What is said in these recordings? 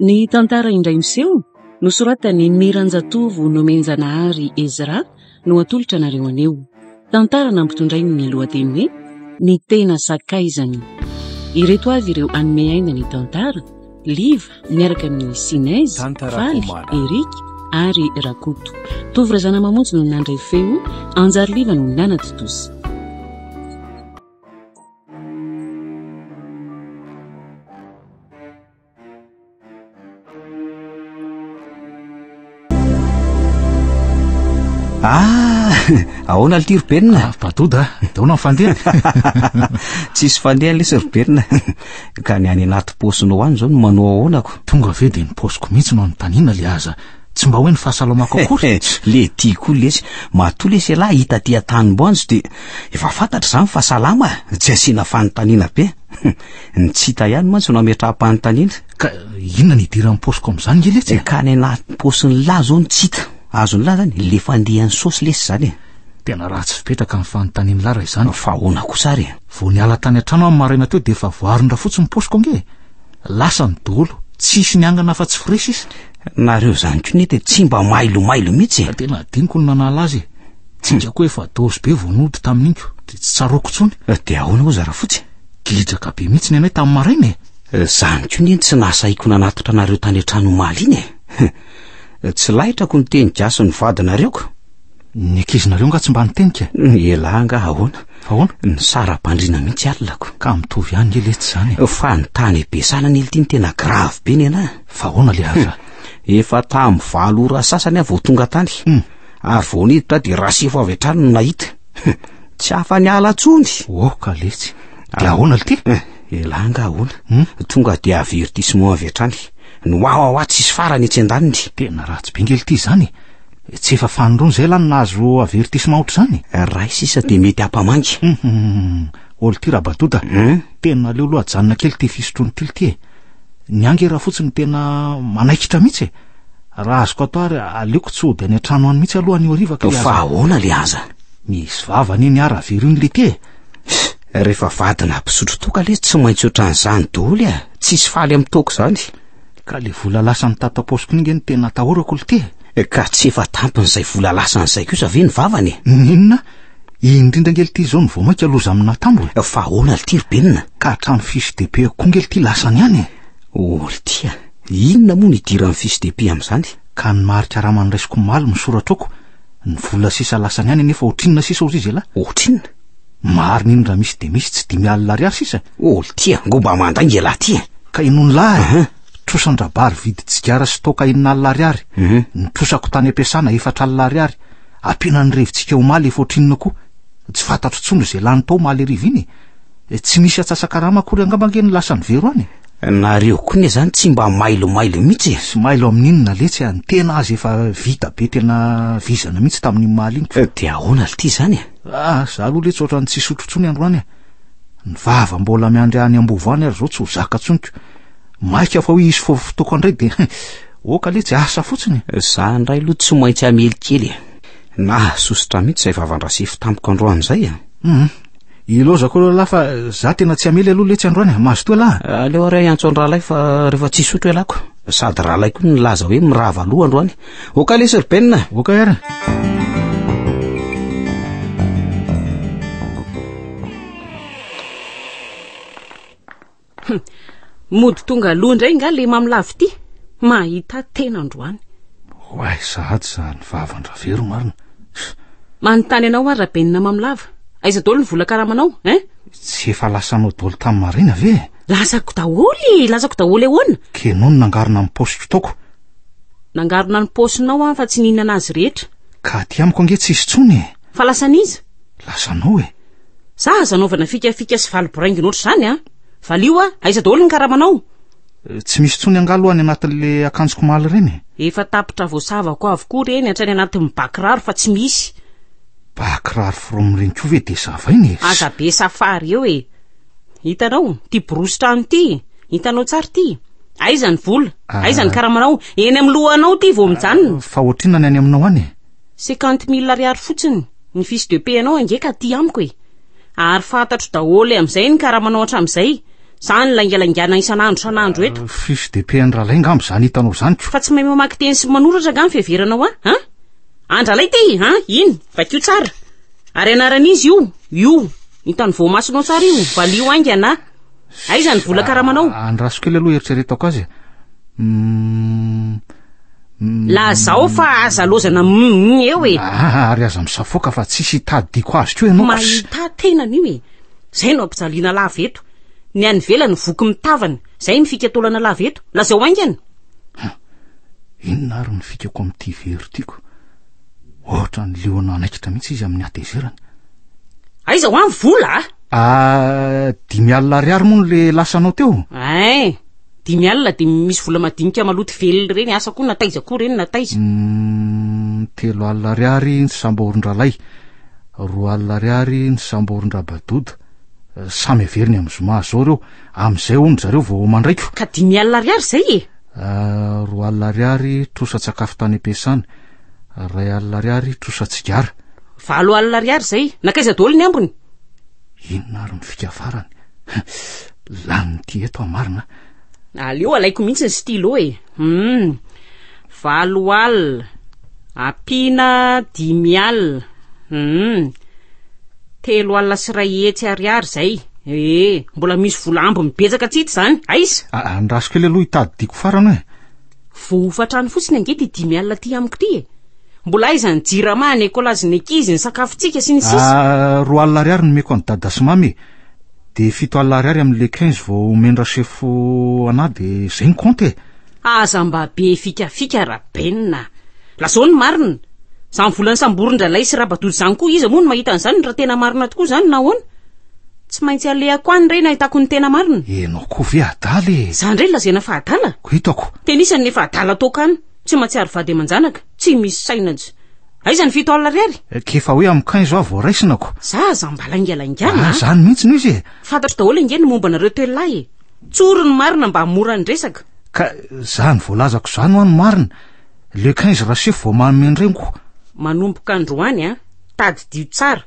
Ny tantara indray miseho nosoratan'i Miranjatovo Nomenjanahary Ezra no atolotra anareo anio. Tantara nampitondrainy ny lohateny hoe Ny tena sakaizany. Ireto avy ireo anome aina ny tantara, Liva miaraka amin'ny Sinez, Faly, Eric ary Rakoto. Tovy Razanamamonjy no nandray feo, Anjary Liva no nanatontosa. ahoana lty robenina ah, badoda ah, daona ny fandehany tsisy fandehany lesy robenina ka ny any anaty paosiny ho any zao no manoa ahoanako tonga ave de ny paosiko mihitsy no anontanina le aza Tsy mba hoe ny fahasalamako akory. le ty koa lesy, matoa lesy ialahy hita aty an-tanimboanjo dia efa fantatra izany fa salama, tsy asiana fanontaniana be. Ny tsy hita ihany mantsy no ametraham-panontaniana. Ka inona ny idiran'ny paosiko amin'izany nge letsy e? Ka ny anatin'ny paosin'ny lahy izao no tsy hita. Azon'ny lahy izany, le fandihan'ny saosy lesy izany e. Tena ratsy fipetraka ny fanontanian'ny lahy raha izany. Fa ahoana kosa ary e? Vao niala tany an-trano aho ny maraina teo dia efa voaharon-drafotsy ny paosiko ange e. Lasany dolo, tsisy niangana afa tsy frais sisa. Nareo zany ko nety tsy mba mailo mailo mihitsy e. Tena adinoko ny nanala azy e. Tsinga ko efa dose be vao nody tamin'iny ko de tsy tsaroako tsony. De ahoana oa Zarafotsy? Gidraka be mihitsy ny anay tamin'ny maraina e. Zany ko neny tsy nahasahiko nanatitra anareo tany an-trano omaly iny e. Tsy lahitrako ny teny gasy ny vadinareo ko. Ny ankizinareo nga tsy mba niteny ka? Ny elah nga ahoana? Ahoana? Ny sara-bandriana mihitsy alilako. Ka mitovy ihany nge letsy zany. E. Fa ny tany ebesana nely ty ny tena grave be nenah. Fa ahoana le aza? Efa tamin'ny valo ora sasany aho vao tonga tany. Hmm. Ary vao niditra dia rasefo avy hatrany no nahita. Tsy afa-niala tsony. Oh ka letsy. Dia ahoana lty? Eh, elah nga ahoana? Hmm? Tonga dia avertissement avy hatrany. Ny wawawa tsisy farany etsy andaniny. Tena ratsy be nge lty zany e. Tsy efa fanindroany izay lany nahazo avertissement ohatr'izany e? Iray sisa dia mety hampamangy. Hum, hum, hum. Ol ty Rabadota. Hein? Tena aleo aloha ajanona kely ty fisotroan'i Tily ty e. Ny ahy nge raha fotsiny tena manaikitra mihitsy e. Raha azoko atao ary aleoko tsy hody any an-trano any mihitsy aloha any hariva ka le Fa aza. ahoana le aza? Misy vava anie ny ahy raha very iny le ty e. Rehefa vadina mpisotro toaka le tsy maintsy ohatran'izany doly a. Tsisy faly amin'ny toaka izany. Ka le vola lasan'i tata paosy koa nge no tena atahorako lty e! Ka tsy efa tampin'izay vola lasany zay kosa ve ny vavany e! N'inona? Indrindra nge lty zao no vao mainka loza amin'ny natambo e! Fa ahoana lty ry Benina? Ka hatramin'ny fiche de paie-ko koa nge lty lasany ihany e! Oh lty a! Inona moa no idiran'ny fiche de paie amin'izany? Ka ny mari karama noraisiko omaly misoratr'oko, ny vola sisa lasany ihany anefa ohatrinona sisa ozy izy elah? Ohatrinona? Marina iny raha misy dia misy tsy dimy alina ariary sisa. Ol ty angoa mba mandray nge lahy ty. Ka inony lahy? Trosan-drabary vidy tsigara sy toaka enina alina ariary. Ny trosako tany am-piasana efatra alina ariary. Ampiana ny revintsika omaly efa ohatrinona koa. Tsy fantatro intsony izay lany tao omaly hariva iny e. Tsy misy atsasa-karama akory angamba ange ny lasan'i Vero any e. Nareo koa ne zany tsy mba mailo mailo mihitsy e. Tsy mailo amin'inona letsy a, ny tena aza efa vita be tena vizana mihitsy tamin'iny omaly iny. Dia ahoana lty zany e? Ah, za aloha letsy ohatran'ny tsy hisotro intsony androany e. Ny vava mbola miandry any Ambovo any ary zao tsy ho zaka tsoniko. Maika fa hoe hisy fotoako andray de oka letsy asa fotsiny. Za indray aloha tsy maintsy hamely kely e. Nahasosotra mihitsy izay vavan-drasefo tamiko androany izay e. Mhm. Ilaozako aloha lahy fa za tena tsy hamely aloha letsy androany. Mazotoa lahy. Aleo ary hiantso an-drahalahy fa rehefa tsy hisotro ialako. Sady rahalahy koa nilaza hoe mirava aloha androany. Oka le Sir Ben. Oka era. Mody tonga aloha indray nga le mamlavity. Mahita tena androany. Oay, sahady izany vavan-dravero marina. Manontany anao ary rabenina mamilava. Aiza dolo ny vola karamanao, hein? Tsy efa lasanao dolo tamin'ny marina ve? Lazako daholo e, lazako daholo ahoana? Kenao ny nangarona ny paosy kitaoko. Nangarona ny paosinao aho fa tsy nihinana azy rehetra. Ka aty amiko ange tsisy tsony e. Fa lasan'iza? Lasanao e. Za aza anaovana fikafika sy valy boraingina ohatr' izany a. Valio a, aiza daholo ny karamanao? Eh, tsy misy tsony angalo any anatin'le akanjoko maly ireny e. Efa tapitra voasavako avokoa ireny hatrany anatin'ny bakiraro fa tsy misy. Bakiraro from ireny koa ve de zavaina e. Aza be safary eo e. Hitanao, ity borosi-trano ity, hitanao tsara ity. Aiza ny vola? Ah. Aiza ny karamanao? Eny amin'ny lohanao ity vao mijanona. Ah, fa ohatrina ny any aminao any e. Cinquante mille ariary fotsiny ny fiche de paie anao ange ka aty amiko e. Ary fantatro daholo amin'izay ny karamanao hatramin'izay. Izany laingalaingana isan'andro isan'andro eto. Ah, fiche de paie an-dralay ngamba izany hitanao izany ko. Fa tsy mahay mamaky teny sy manoratra nga ny fiheveranao an? Ah? An-dralay ity, an? Iny, vakio tsara. Ary anaran'izy io, io. Entan'ny voamasonao tsara io, valio haingana a! Aiza ny vola karamanao? Ah, andraso kely aloha eritreretako azy e. Mm, mm. Lazao fa aza lozana mm eo e. Ah, ary aza misafoaka fa tsisy hitadidiko azy koa ianao. Mahita tena an'io e. Zay no ampijaliana lava eto. Ny any ivelany voky mitavana. Zay ny fikatolana lava eto. Lazao haingana. Inona ary ny fikako amin'ity very tiako? Ohatran'ny liona anaikitra mihitsy izy amin'ny hatezerany. Aiza ho any vola a? Ah, dimy alina ariary moa no le lasanao teo? Ay, eh, dimy alina dia misy vola madinika maloto velona ireny, asa koa nataiza koa ireny nataiza. Hmm, telo alina ariary ny sambaorin-dralay, roa alina ariary ny sambaorin-drabadoda. Eh, samy averiny amin'ny zoma azao ireo, amin'izay hono zareo vao mandraiko. Ka dimy alina ariary izay e? Eh, roa alina ariary trosa-tsakafo tany am-piasana. Iray alina ariary trosa tsigara. Valo alina ariary izay. Nakaiza daholo ny ambiny? Inona ary ny fika farany? Lanin'ity eto aho marina. Aleo alaiko mihitsy ny stylo e. Hmm. Valo alina. Ampiana dimy alina. Hmm. Telo alina sy iray hetsy ariary izay. Eh, mbola misy vola ambiny betsaka tsy hita izany. Aiza? Andrasiko ela aloha hitady diako farany hoe. Vao hofatrany fotsiny ange ty dimy alina ty amiko ty e. Mbola aiza ny jirama, ny écolage ny ankizy, ny sakafontsika sy ny sisa. Ah, roa alina ariary nomeko an'i dada sy mamy e. Dia fito alina ariary amin'ny le 15 vao omenra sefo anà dia zay ny compte e. Aza mba be fikafika Raben a. Lazao ny marina. Izany volan'ny samborin-dRalay sy Rabatoto izany koa iza moa no mahita an'izany raha tena marina tokoa izany na ahoana? Tsy maintsy alehako any re nahitako ny tena marina. Ianao koa ve adala e? Zany re lazaina fa adala? Ko hitako. Tenisany nefa adala toaka any. Tsy mahatsiaro vady aman-janaka. Tsy misy saina tsy. Aiza ny fito alina ariary? Eh, k'efa hoe amin'ny quinze aho vao raisina ko. Za aza mba laingalaingana. Ah, zany mihitsy no izy e. Fantatro daholo ange ny momba anareo telo lahy e. Tsoro ny marina mba mora ny resaka. Ka zany voalazako zany hoa ny marina. Le quinze rasefo vao manome ny reniko. Manomboka androany an. Tadidio tsara,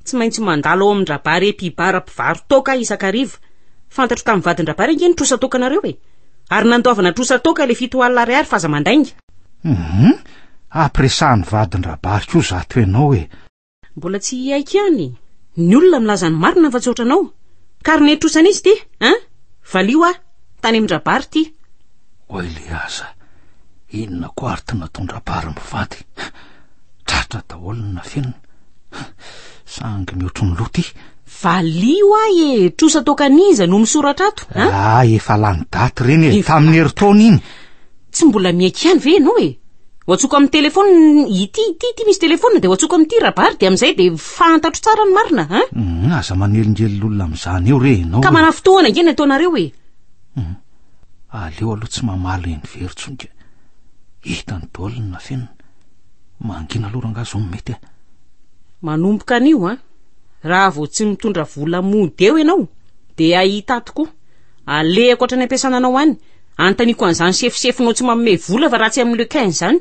tsy maintsy mandalo ao amin-dRabary Epibara mpivaro-toaka aho isan-kariva. Fantatro tamin'ny vadin-dRabary ange ny trosan-toakanareo e! Ary nandoavana trosan-toaka ilay fito alina ariary f'aza mandainga. Humm! Ampiresahan'ny vadin-dRabary koa zato ianao e! Mbola tsy hiaiky ihany e! Ny olona milaza ny marina fa tsy ohatranao. Carnet trosan'izy ity, hein? Valio aho. Tany amin-drabary ity. Oay le aza. Inona koa ary ty nataon-drabary mivady. Tratra daholo ny nafenina. Sangy mihoatry ny loha ty. Valio ahy e, trosa toakan'iza no misoratra ato? Ah, efa lany daty reny e, tamin'ny herintaona iny. Tsy mbola miaiky ihany ve ianao e? Ho antsoko amin'ny telefaonina ity, ity, ity misy telefaonina dia ho antsoko amin'ity rabary dia amin'izay dia fantatro tsara ny marina a. Hum, aza manelingelilolona amin'izany eo re ianao. Ka manafintohana ange ny ataonareo e. Hum, aleo aloha tsy mamaly eny very tsony ka. Hitany daholo ny nafenina. Mangina aloha rangaha zao no mety a. Manomboka anio a. Raha vao tsy mitondra vola mody eo ianao dia ahita tokoa. Alehako hatrany ampiasana anao any. Anontaniako an'izany sefosefonao tsy manome vola fa raha tsy amin'ny Lequin izany.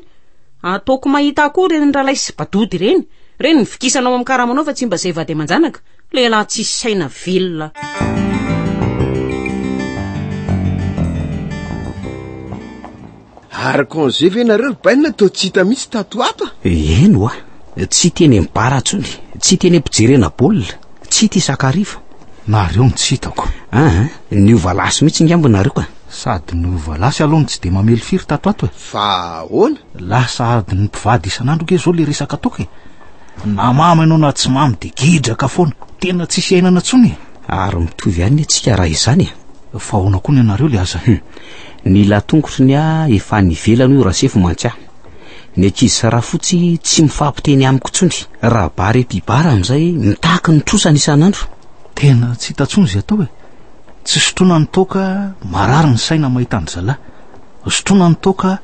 Ataoko mahita akoho ireny ralay sy badody ireny. Ireny ny vikisanao amin'ny karamanao fa tsy mba izay vady aman-janaka. Lehilahy tsisy saina velona. Ary congé ve nareo ry baina toa tsy hita mihitsy tato ato a? Eh, eny wa, tsy teny amin'ny bar intsony, tsy teny am-pijerena baolina, tsy tia sakariva. Nareo no tsy hitako. Ah, Niova lasy mihitsy ngamba nareo ka. Sady niova lasy aloha no tsy dia mamely firy tato ato e. Fa ahoana? Lasa adin'ny mpivady isan'andro nge zao le resaka toaka e. Na mamy ianao na tsy mamy dia gidraka foana. Tena tsisy iainana tsony e. Ary mitovy ihany ny antsika raha izany e. Fa ahoana koa ny anareo le aza e. Ny latongotry ny ahy efa any ivelany hoy Rasefo mantsy ahy. Ny ankizy sy Rafotsy tsy mifampiteny amiko intsony. Raha bare mpibara amin'izay mitaky ny trosany isan'andro. Tena tsy hita tsony zay atao e. Tsy sotroina ny toaka, marary ny saina mahita ny zala. Sotroina ny toaka,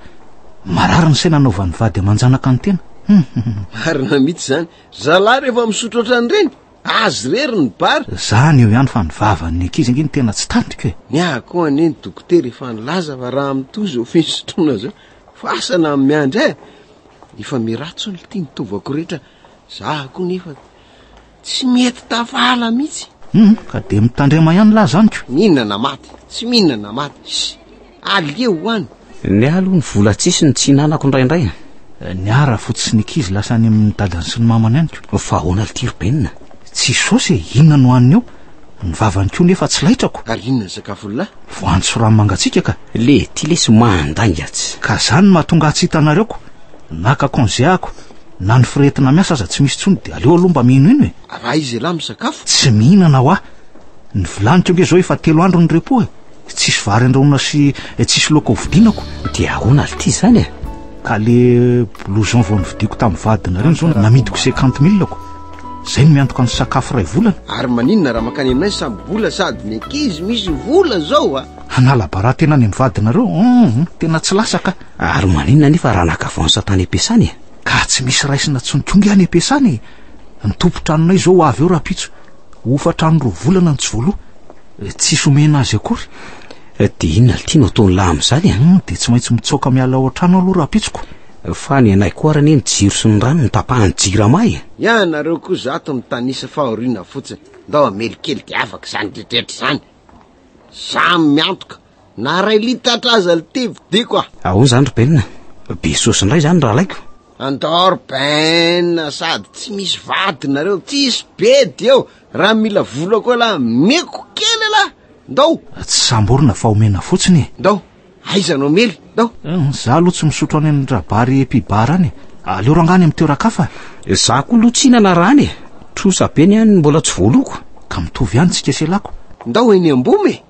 marary ny saina anaovan'ny vady aman-janaka ny tena. Marina mihitsy zany. Zala rehefa misotro ohatran'ireny, azy rery ny bar. Zany eo ihany fa ny vavan'ny ankizy ange ny tena tsy tantiko e. Ny ahy koa anie ny dokotera efa nilaza fa raha mitohy zao fisotroana zao, fasana amin'ny miandry ahy. Efa miratsy olo ty ny tovako rehetra, zah koa nefa. Tsy mety tavala mihitsy. Humm, ka dia mitandrema ihany lahy zany ko. Mihinana na maty, tsy mihinana na maty, ssy, aleo ho any. Ny ahy aloha ny vola tsisy no tsy hinanako indraindray a. Ny ahy raha fotsiny ny kizy lasa any amin'ny dadany sy ny mamany any ko. Fa ahoana lty ry Ben a? Tsy saosy e, inona no haniny eo? Ny vavany ko nefa tsy laitrako. Ary inona ny sakafony lahy? Voanjo sy ranomangatsiaka ka. Le ty lesy mandainga atsy. Ka zany no mahatonga ahy tsy hitanareo ko. Naka congé aho ko. Na ny firehetina miasa aza tsy misy intsony dia aleo aloha mba minoino e! Raha izy elah misakafo? Tsy mihinana hoa! Ny vilaniko ange izao efa telo andro ny repos e! Tsisy vary andrahoina sy tsisy laoka hovidianako! Dia ahoana lty izany e! Ka le blouson vao novidiako tamin'ny vadinareo izao namidiko cinquante mille ko! Izay no miantoka ny sakafo iray volana! Ary maninona raha mankany aminay samy bola sady ny ankizy misy vola izao a! Hanala baràha tena any amin'ny vadinareo? Hum! Tena tsy lasa ka! Ary maninona anefa raha naka vao an'i Satana Empiasana e? Ka tsy misy raisina tsony koa nge any Empiasana e! Ny tompon-tranonay izao ho avy eo rahampitso. Hofantrano roa volana ny tsy voaloha. Tsisy omena azy akory. Dia inona ry Tino ataon'ny lahy amin'izany e? Hum, dia tsy maintsy mitsaoka miala ao an-trano aloha rahampitsoko. Fa ny anay koa ary anie ny jiro sy ny rano no tapahan'ny Jirama e! Ianareo koa zato mitanisa fahoriana fotsiny. Ndao hamely kely dia afaka izany rehetra rehetra izany. Izaho miantoka Na iray litatra aza le te vidiko a! Ahoana izany ry Ben? Be saosy indray izany rahalaiko? Andao ry Ben a! Sady tsy misy vady nareo, tsisy bedy eo! Raha mila vola koa lahy, meko kely lahy! Ndao! Tsy samborina fa omena fotsiny e! Ndao! Aiza no omely? Ndao! Izaho aloha tsy misotro any amin'ny rabary epi bar any e! Aleo rangahy any amin'ny toeran-kafa e! Izaho koa aloha tsy hihinana raha any e! Trosa be ny any mbola tsy voaloako! Ka mitovy ihany tsika sy elako! Ndao eny Amboma e!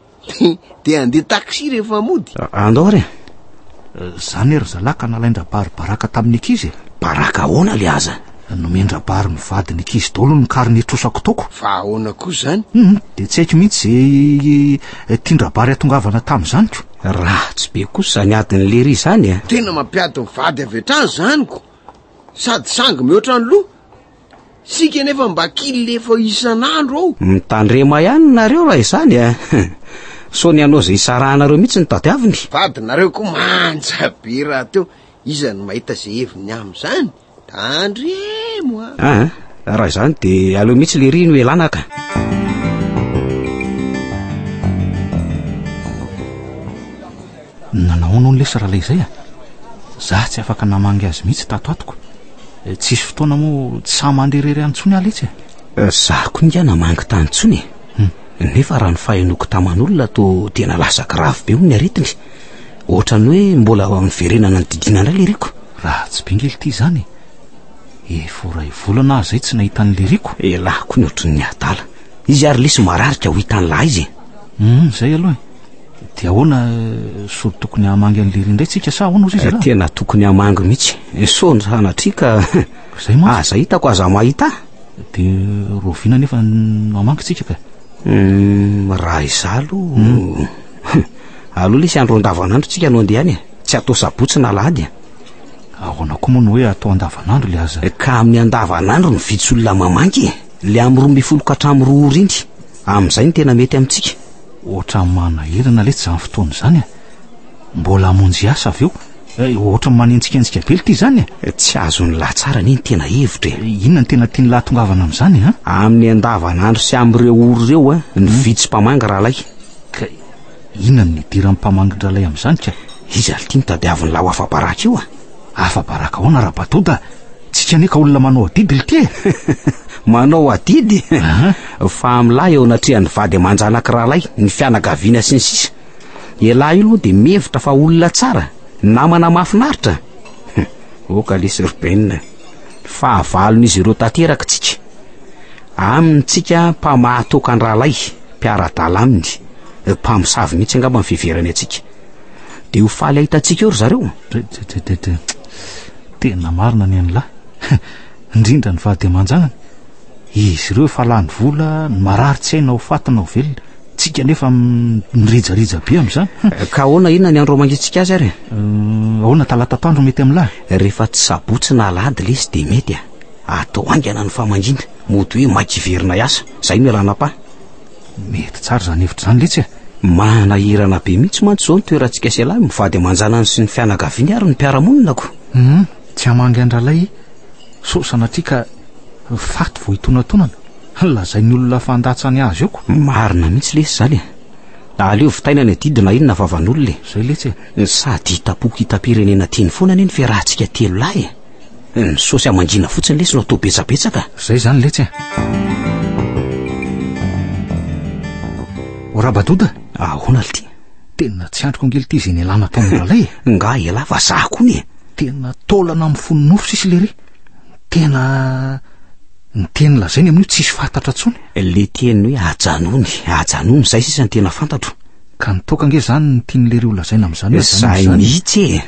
Dia handeha taxi rehefa mody? Andao re! Zany e ry zalahy ka nalain-drabary baraka tamin'ny ankizy e! Baraka ahoana le aza? Nomen-drabary ny vadin'ny ankizy daholo ny kary nitrosako taoko. Fa ahoana koa izany? Hum, dia tsy haiko mihitsy izay tian-drabary hatongavana tamin'izany ko. Ratsy be kosa izany adin'i lery izany e! Tena mampiady ny vady avy hatrany izany ko! Sady sangy mihoatra ny loha! Isika anefa mba kilefa isan'andro ao. Mitandrema ihany nareo raha izany eh. Sao ny hanao izay isarahanareo mihitsy ny tadiaviny. Vadinareo koa manja be rahateo. Iza no mahita izay heviny amin'izany? Tandremo ah. Ah, eh. raha izany dia aleo mihitsy lery no elanaka. Nanao ahoana hono lesy ralay izay a? Zah tsy afaka namangy azy mihitsy tato atoko. Tsisy fotoana moa tsy sahy mandeha irery any intsony aho letsy e. Zah koa ingahy namangy tany intsony e. Hmm. Nefa raha ny fahenoako taman'olona toa tena lasa grave be hono ny aretiny. Ohatran'ny hoe mbola miverenana ny didiana indray liriko. Raha tsy bingy ity izany e. Efa ho ray volana aho izay tsy nahita ny liriko. Elah koa ny ohatrin'ny adala. Izy ary lesy marary ka ho hitan'lah izy e. Hmm, izay aloha e. Dia ahoana so tokony hamangy an'i Lery indray tsika sa ahoana ozy izy eh, Tena tokony hamangy mihitsy. Eh, so ny sanatria ka Zay mantsy. aza hitako aza mahita. Dia roviana nefa no hamangy tsika ka. Hmm, raha izaho aloha hmm. aloha lesy andro andavanandro tsika no andeha any e. Tsy atao sabotsy na lahady e. Ahoana koa moa no hoe atao andavanandro le aza. Eh, ka amin'ny andavanandro no vitsy olona mamangy e. Le amin'ny roa ambin'ny folo ka hatramin'ny roa orindry. Amin'izay no tena mety amintsika. Ohatran'ny manahirana letsy izany fotoana izany e. Mbola hamonjy asa avy eo. Eh, ohatran'ny manenjikenjika be ity izany e. Eh, tsy azon'ny lahy tsara anie ny tena hevitra e. Eh, inona no tena tian'ny lahy tongavana amin'izany e? Amin'ny andavanandro sy amin'ireo ory ireo e, ny hmm. vitsy mpamangy rahalahy. Ka inona no nidiran'ny mpamangy rahalahy amin'izany ka? Iza ity no tadiavin'ny lahy ho afa-baraka io e? Afa-baraka ahoana raha batoda? Tsika anie ka olona manao adidy lty e! Manao adidy? Fahamlahy eo anatrehan'ny vady aman-janak'i rahalahy, ny fianakaviana sy ny sisa. Ialahy io aloha dia mihevitra fa olona tsara, namana mahafinaritra. Oka lesy ry Ben, fahavalon'izy ireo tanteraka tsika. Aminy tsika mpamahatokan-drahalahy, mpiara-dala aminy, mpamosavy mihitsy angamba ny fiheverany antsika. Dia ho faly hahitantsika eo ry zareo. Tena marina ny an'la. Indrindra ny vady aman-janany. Izy ireo efa lany vola, ny marary tsy hay na ho faty na ho velona. Tsika nefa mirijarija be amin'izany. Ka ahoana inona ny andro hamangiantsika azy ary? Ahoana talata atoandro mety amin'la? Rehefa tsy sabotsy na alahady ilay izy dia mety a. Atao haingana ny famangiana. Mody hoe maika hiverina hiasa. Izay no ialana am-pa. Mety tsara izany hevitra izany letsy e! Manahirana be mihitsy mantsy izao ny toerantsika sy ialahy, mivady aman-janany sy ny fianakaviany ary ny mpiara-monina ko! Hum, tsy hamangy an-dRalay sao sanatria ka faty vao hitonatonana, lazain'ny olona fa handatsany azy eo ko! Marina mihitsy lesy izany e! Aleo vitaina ny adidy na inona vavan'olona e! Izay letsy e! Sady hitam-poko hitam-pirenena tiany foana anie ny fiarahantsika telo lahy e! Ny saosy amangina fotsiny lesy no atao betsabetsaka. Zay zany letsy a. Orabadoda? Ahoana lty? Tena tsy andriko ange lty zay nialana tao amin'ny lalay e. Nga elah fa zah koa anie. Tena taolana amin'ny fony nofo sisy lery. Tena ny teny lazainy amin'io tsisy fahatatra intsony. Le teny hoe ajanony, ajanony, zay sisa ny tena fantatro. Ka nitoaka ange zany ny tian'i lery ho lazaina amin'izany hoe ajanony izany. Zay mihitsy e.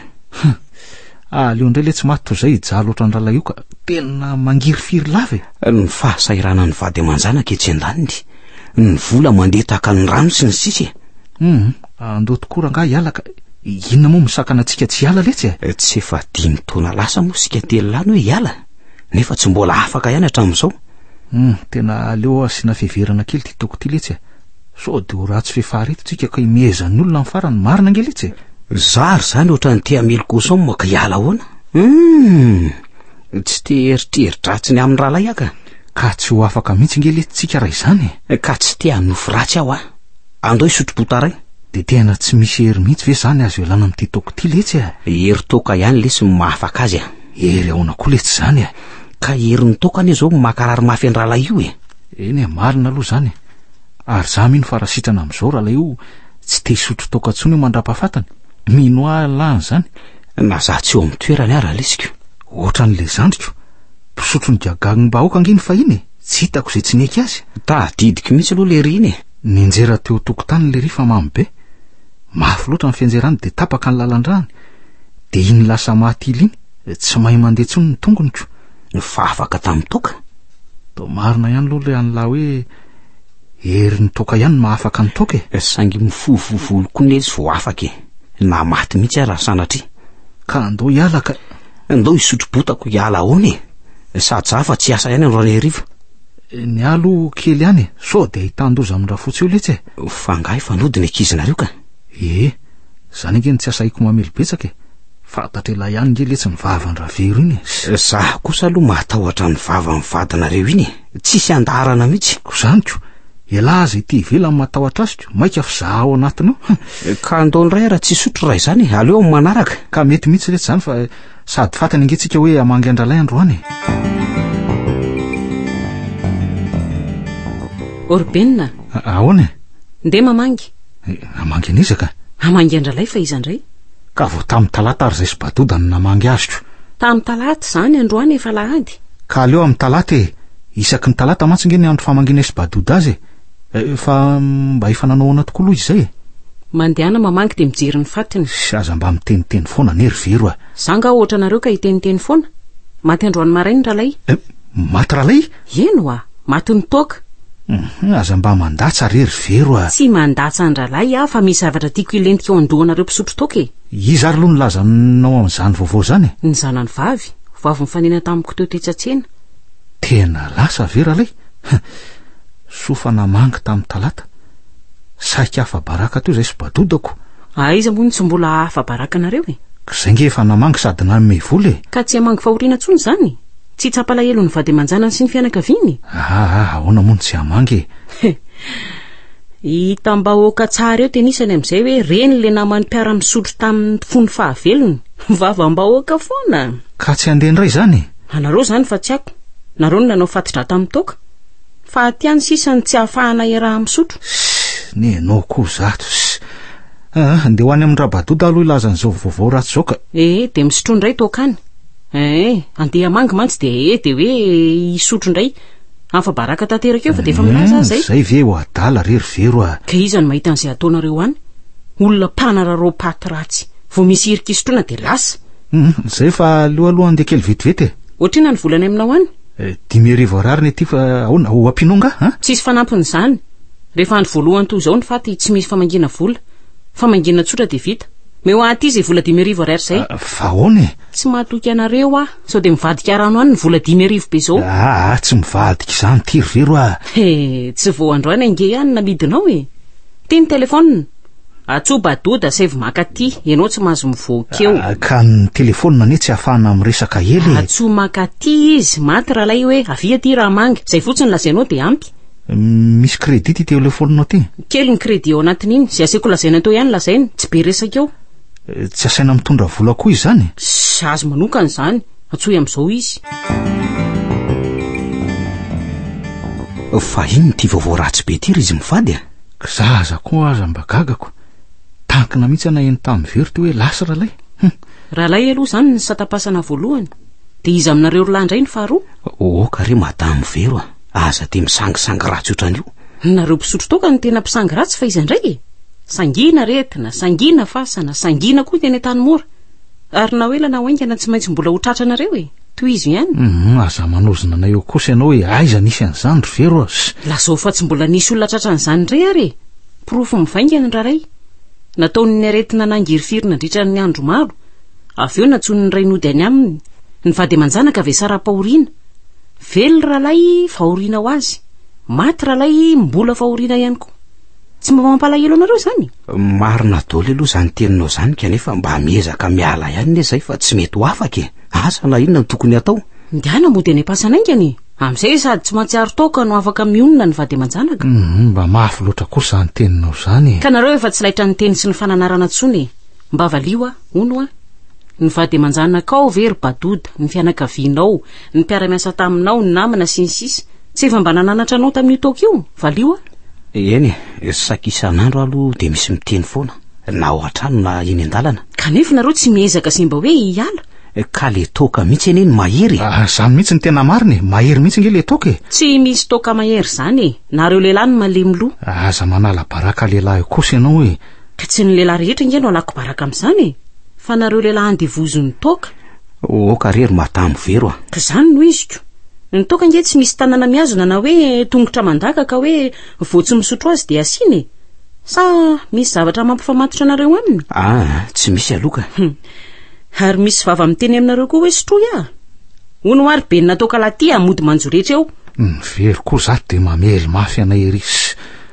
Ah, aleo indray le tsy maty toy izay hijaly ohatran'ny rahalahy io ka. Tena mangirifiry lava e! Ny fahasahiranan'ny vady aman-janaka etsy an-daniny, ny vola mandeha tahaka ny rano sy ny sisa e! Hum, andao tokoa rangahy hiala ka. Inona moa misakana antsika tsy hiala letsy e? Eh, tsy efa dimy taona lasa moa isika telo lahy no hoe hiala, nefa tsy mbola afaka ihany hatramin'izao. Hum, tena aleo asiana fiheverana kely ity toko ity letsy e! Sao dia ho ratsy fefy areto tsika ka imehezan'ny olona amin'ny farany marina ange letsy e. Zary izany ohatran'ny te hamely cochon moa ka hiala ahoana? Hum, tsy te eritreridratsy ny amin'ny rahalahy aho ka. Ka tsy ho afaka mihitsy nge letsy tsika raha izany e. Ka tsy te hanofy ratsy aho a. Andao hisotro botarin. Dia tena tsy misy hery mihitsy ve izany azo ialana amin'ity toaka ity letsy e? Hery toaka ihany letsy no mahafaka azy a. Hery ahoana koa letsy izany e? Ka herin'ny toaka anie izao no mankarary mafy an-drahalahy io e. Eny e, marina aloha izany e. Ary za mino fa raha sitrana amizao ralaiho tsy te hisotro toaka tsony io mandrapa fatiny. Mino ahy Allah anizany. Na za tsy eo amin'ny toerany ara lesiko. Ohatran le zandriko. Mpisotro ny gagagny bahoaka ange ny fahiny e. Tsy hitako izay tsy neky azy. Tadidiko mihitsy aloha lery iny e. Nianjera teo tokotany lery fa mamy be. Mafy loatra ny fianjerany dia tapaka ny lalandrany. Dia iny lasa maty ily iny. Tsy mahay mandeha tsony ny tongoniko. nifafaka tamin'ny toaka? Toa marina ihany aloha ilay an'lah hoe herin'ny toaka ihany no mahafaka ny toaka e. Saingy mifoha vovolo koa netsy vao afaka e. Na maty mihitsy ara sanatria. Ka andao hiala ka. Andao hisotro botako hiala ahoana e. Sady za fa tsy asa ihany andro hariva. Eh, ny alo kely ihany e. Sao dia hitan-doza amin-drafotsy eo letsy e. Fa ngahy fanodina ekizinareo ka. Eh, zany ange ny tsy asahiko mamely betsaka e. Fantatr' elah ihany nge letsy ny vavan ravero iny e! Za kosa aloha mahatahotra ny vavan ny vadinareo iny e! Tsisy andaharana mihitsy! Ko zany ko! Elah aza ety ivelany matahotra azy ko! Maika fa za ao anatiny ao hein! Ka ndao ndray ara tsy sotro raha izany e! Aleo am manaraka! Ka mety mihitsy letsy zany fa sady fatiny nge tsika hoe hamangy andralay androany e! Orben a! Ahoana e! Ndeha mamangy! Hamangy an'iza ka? Hamangy andralay fa iza ndray? Ka vao tamin'ny talata ary izay sy badoda no namangy azoko. Tamin'ny talata izany, androany efa alahady. Ka aleo amin'ny talata e! Isaky ny talata mantsy nge ny andro famangianay sy badoda azy e! Eh, fa mba efa nanao ahoana tokoa aloha izay e? Mandehana mamangy dia mijery ny fatiny. Sy aza mba miteniteny foana anie ry Vero a! Za nga ohatranareo ka hiteniteny foana? Maty androany maraina Ralay. Eh, maty Ralay? Eny oa! Maty ny toaka! Hum, aza mba mandatsa re ry Vero a! Tsy mandatsa an-drahalahy aho fa misy zavatra tiako hilentika eo an-dohanareo mpisotro toaka e! Iza ary aloha no nilaza anao an'izany vaovao izany e? Ny zanany vavy, vao avy nifanena tamiko teo tetsy an-tsena. Tena lasa ve ralay? Hum, soa fa namangy tamin'ny talata. Sahiko afa-baraka teo izay sy badodako. Aiza moa no tsy mbola afa-baraka anareo e? K'izay nge efa namangy sady nanome vola e! Ka tsy hamangy fahoriana intsony izany? Tsy tsapa alahelo ny vady aman-janany sy ny fianakaviany? Aa aa ahoana moa no tsy hamangy e! He! Hitam-bahoaka tsara eo tenisany amin'izay hoe reny ilay namany mpiara-misotro tamin'ny fony fahavelony. Vavam-bahoaka foana! Ka tsy handeha indray izany e! Anareo izany fa tsy ako. Nareo no nanao fati-dra tamin'ny toaka. Faty ihany sisa ny tsy hahafahana hiaraha-misotro. Ssss! Ny ianao koa izato! Ssss! Aa! Andeha ho any amin-dRabadoda aloha hilaza an'izao vaovao ratsy izao ka! Ee, dia misotroa indray toaka any. Ee, andeha hamangy mantsy dia ee dia hoe hisotro indray. Hafa baraka tanteraka eo fa dia efa milaza aza ee. Izay ve ho adala re ry Vero a. Ka iza no mahita an'izay ataonareo any? Olona mpanararao paty ratsy. Vao misy hirika hisotroana dia lasa. Izay fa aleo aloha andeha kely vetivety e. Ohatrina ny volany aminao any? Dimy arivo Ar ny aty fa ahoana ho ampianao nga a? Tsisy fanampin'izany. Rehefa andro voalohany toa izao ny faty tsy misy famangiana vola. Famangiana tsotra dia vita. Meo aty izay vola dimy arivo Ar izay. Fa ahoana e? Tsy mahatoky anareo aho. Sao dia mivadika rano any ny vola dimy arivo be izao. Aa, tsy mivadika izany ity ry zero a. He, tsy vao androany ange ihany namidinao e. Ty ny telefonina. Atsoa Badoda saivo maka ty, ianao tsy mahazo mivoaka eo. Ah, ka ny telefonina anie tsy ahafahana miresaka ela e. Atsoa maka ty izy, maty rahalahy hoe avia ty raha manga, izay fotsiny lazainao dia ampy. Misy crédit ty telefoninao ty? Kely ny crédit ao anatin'iny, izay aseko lazaina teo ihany lazaina, tsy be resaka eo. Eh, tsy asaina mitondra vola koa izany sy azy manokana izany atsoy amin'izao izy fa ino ty vaovao ratsy be ty ry izy mivady a ka za aza koa aza mba gagako tankina mihitsy ana eny tamin'ny very teo hoe lasy ralay ralay aloha izany ny satapasana voalohany dia izy aminareo rolahy indray ny faharoa oka re madamo vero a Aza dia misangisangy ratsy ohatran'io. Nareo mpisotro toaka no tena mpisangy ratsy fa iza indray e? Sangina aretina, sangina fasana, sangina koa ny teny Antanimora. Ary na ho ela na ho haingana tsy maintsy mbola ho tratranareo e. Tohizo ihany. Hum, aza manozona anay eo kosa ianao e. Aiza nisy an'izany ry Vero a. Lazao fa tsy mbola nisy olona tratran'izany indray ary e. Porofo mivaingana ny raray. Nataon'ny aretina nangirifiry nandritra ny andro maro. Avy eo nantsoin'ny ray nody any aminy. Nivady aman-janaka avy Sarapahoriana. Vely ralay fahoriana ho azy. Maty ralay mbola fahoriana ihany koa. Tsy mba mampalahelo anareo izany? Marina doly aloha izany teninao izany kanefa mba miezaka miala ihany ne zay fa tsy mety ho afaka e. Asa na inona no tokony atao. Ndana mody any am-pasana aingana e. Amin'izay sady tsy mahatsiaro taoka no afaka mionona ny vady aman-janaka. Mba mafy loatra kosa izany teninao izany e. Ka nareo efa tsy laitra ny teny sy ny fananarana intsony e. Mba valio aho, hono an! Ny vady aman-janakao ve ry Badouda, ny fianakavianao, ny mpiara-miasa taminao, ny namana, sy ny sisa Tsy efa mba nananatra anao tamin'io toaka io? Valio aho! Eny e, saika isan'andro aho aloha dia misy miteny foana, na ao an-trano na eny an-dalana. Kanefa ianareo tsy miezaka sy mba hoe hiala? Ka le toaka mihitsy anie no mahery e! Ah, izany mihitsy no tena marina e! Mahery mihitsy ange le toaka e! Tsy misy toaka mahery izany e! Nareo lehilahy no malemy loha! Aza manala baraka lehilahy kosa ianao e! Ka tsy ny lehilahy rehetra nge no alako baraka amin'izany e! Fa nareo lehilahy andevozon'ny toaka. Oh ka re ry madamo vero a! Ka zany no iziko. Ny toaka nge tsy misy tanana mihazona na hoe tongotra mandaka ka hoe vao tsy misotro azy dia asiana e! Sa misy zavatra mampifamatotra anareo aminy? Ah, tsy misy aloha ka. Hum. Ary misy vava miteny aminareo koa hoe sotroy ah! Hono hoa ry benina toaka lahy ty a, mody manjo rehetra eo. Ny vero koa za dia mamely mafy anay ery.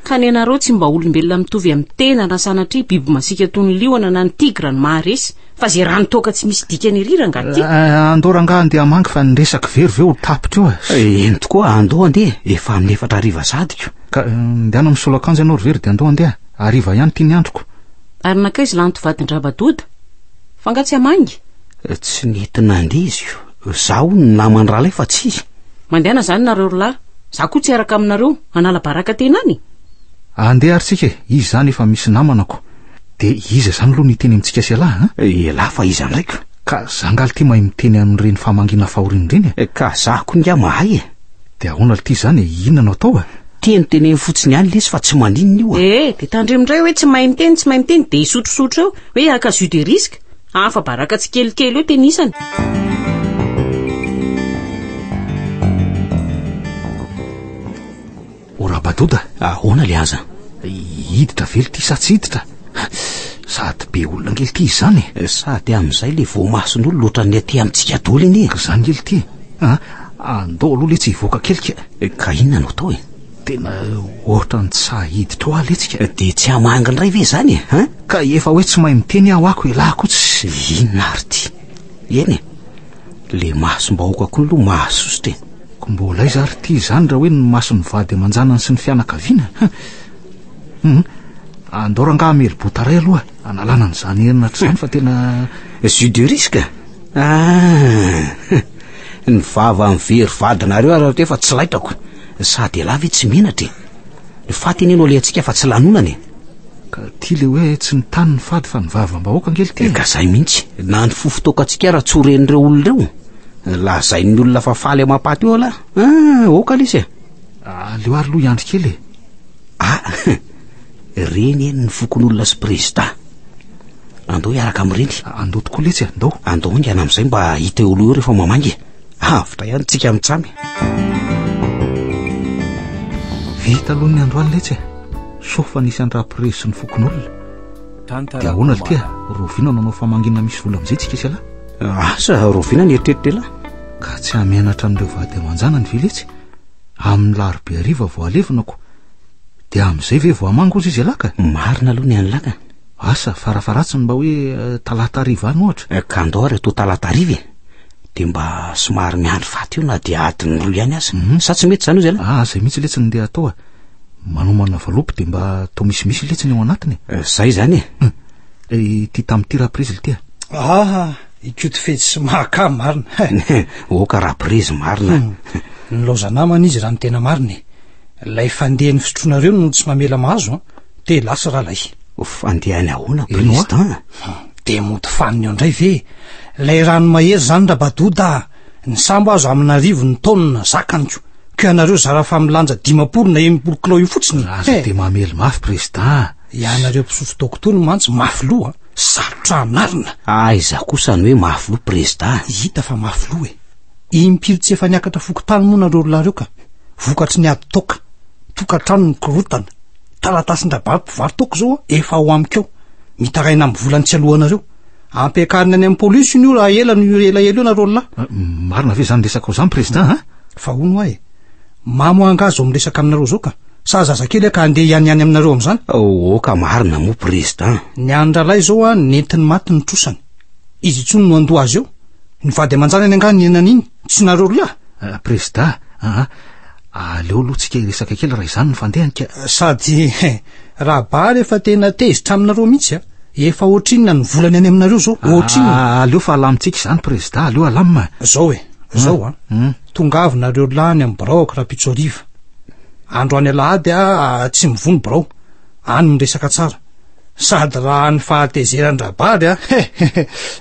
Ka ny anareo tsy mba olombelona mitovy amin'ny tena na sanatria biby masiaka toy ny liona na ny tigra no maharesy fa ze rano toaka tsy misy dikany ery rangah ty. Eh, eh, andao rangah andeha hamangy fa ny resaka very ve ho tapitra eo eh? eh, eny tokoa andao andeha efa amin'ny efatra ariva zadiko. Ka ndehana misolo akanjo ianao ry very dia andao andeha ariva ihany ity ny androko. Ary nankaiza lanto vadin-drabadoda? Fa nga tsy hamangy? Tsy nety nandeha izy io. Zaho ny naman'i Ralay fa tsy izy. Mandehana izany nareo ry lahy. Za koa tsy hiaraka aminareo hanala baraka tena any e. Andeha ary tsika e, izy izany efa misy namana ko. Dia iza izany aloha no hiteny amintsika sy elah an? Elah fa iza indray ka? Ka za angaha lty mahay miteny amin'ireny fahamangiana fahoriana ireny e? Ka za koa ingaha mahay e. Dia ahoana lty izany e, inona no atao e? Teny teneno fotsiny ihany lesy fa tsy maninona io a. Ee, dia tandremo indray hoe tsy mahay miteny, tsy mahay miteny, dia hisotrosotro eo, hoe haka jus de risque. Hafa baraka tsikelikely io tenisany. Rabadoda, ahoana le aza? Hiditra vely ty sa tsy hiditra? Sady be olona ngely ty izany. Eh, sady amin'izay le voamason'olo loatra ny aty amintsika doly anie. Izany ngely ty. Ah, andao aloha le tsy hivoaka kelika. Eh, ka inona no atao e? Tena ohatran'ny tsy sahy hiditra ao aho letsika. Dia tsy hamangy indray ve izany e? Hein? Ka efa hoe tsy mahay miteny aho ako elah ko tsy. Inona ary ty? Eny e, le masom-bahoaka ko lo mahasosotra e. Ko mbola aiza ary ty izany raha hoe ny mason'ny vady aman-janany sy ny fianakaviana? Hum, andao rangaha hamely bota iray aloha analana an'izany henatra izany fa tena. Jus de risque? Ah, ny vavan'ny very vadinareo ary raha efa tsy laitako. Ny saha dia lahy ve tsy menatra e! Ny faty anie no alehantsika fa tsy lanonana e! Ka ty le hoe tsy ny tany ny fady fa ny vavim-bahoaka ange lty e! Ka zay mihitsy, na ny fofo toaka antsika ara tsy ho ren'ireo olona ireo! Lazain'ny olona fa faly amam-paty eo alah! Ah! Oka lesy e! Aleo ary loha hiandry kely e! Ah! Reny eny ny fokonolona sy prezida! Andao hiaraka amin'ireny! Andao tokoa letsy e! Andao! Andao haingana amin'izay mba hita eo aloha eo rehefa mamangy e! Avotra ihany tsika mitsamy. Vita aloha ny androany letsy e. Sofa nisy andrapirezy sy ny fokonolona. Dia ahoana le tia? Rovina nanao famanginana misy vola amin'izay tsika sy lahy. Asa rovina ny eritreritra lahy. Ka tsy hamenatra an'ireo vady aman-janany ve letsy? Amin'ny larobe hariva vao alevina ko. Dia amin'izay ve vao hamanga ozy izy lahy ka? Marina aloha ny an'i lahy ka. Asa farafaratsiny mba hoe eh, talata hariva any ohatra. Eh, ka andao ary atoa talata hariva e. de mba somary miandry faty eo na dia adiny roa ihany aza mhm. sa tsy mety zany ozy ala ah zay mihitsy letsy ny ndeha atao a ah. manomana valopy de mba atao misimisy letsy ny ao anatiny eh, zay zany e hmm. eh, ty tamin'ity raha prizy lty a ah. aa ah, ikoty fetsy sy mahaka marina oka raha prizy marina hmm. ny laozanamana izy raha ny tena marina e lay fandeha ny fisotroanareo no tsy mamela mahazo a te lasy ralay fandehany ahoana président de mody faniny eo indray ve lay rano mahery zany rabadoda ny sambo azo amina arivo ny taonina zakaniko ko ianareo zara fa milanja dimampolo na enimpolo kilao io fotsiny aza eh. de mamely mafy président ianareo mpisotro dokotony mantsy mafy loha sarotra anarina aiza ah, kosa ny hoe mafy loha président hita fa mafy loha e impiry tsy efa niakatra fokotany moa nareo lareo ka vokatry ny ady toka tokantrano ny korotana taratasin-dRabary mpivarotoko izao an, efa ao amiko ao, mitaraina amin'ny volany tsy alohanareo. Ampiakarina any amin'ny polisy io raha ela no elaela io nareo lahy. Ah, marina ve izany resakao izany, Prezidà, an? Fa hono hoa e, mamo angaha izao miresaka aminareo izao ka, sa zazakely aho ka handeha hianiany aminareo amin'izany? Oa ka marina moa, Prezidà. Ny an'ny rahalahy izao an, nentin'ny maty ny trosany. Izy intsony no handoa azy eo. Nivady aman-janany angaha ny henan'iny? Tsy nareo roa ah? Euh, Prezidà, aa, aleo aloha tsika hiresaka kely raha izany no fandehany ka. Sady eh, Rabary efa tena tezitra aminareo mihitsy ah? Efa ohatrinona ny volany any aminareo zao? Ohatrinona? Ah, aleo fa alamintsika izany Prezidà, aleo alamina ah. Zao eh, zao ah? Hmm. Tongava nareo lahy any amin'ny biraoko rahampitso hariva. Androany alahady ah, tsy mivoha ny birao. any miresaka tsara sady raha ny fahatezeran-drabary a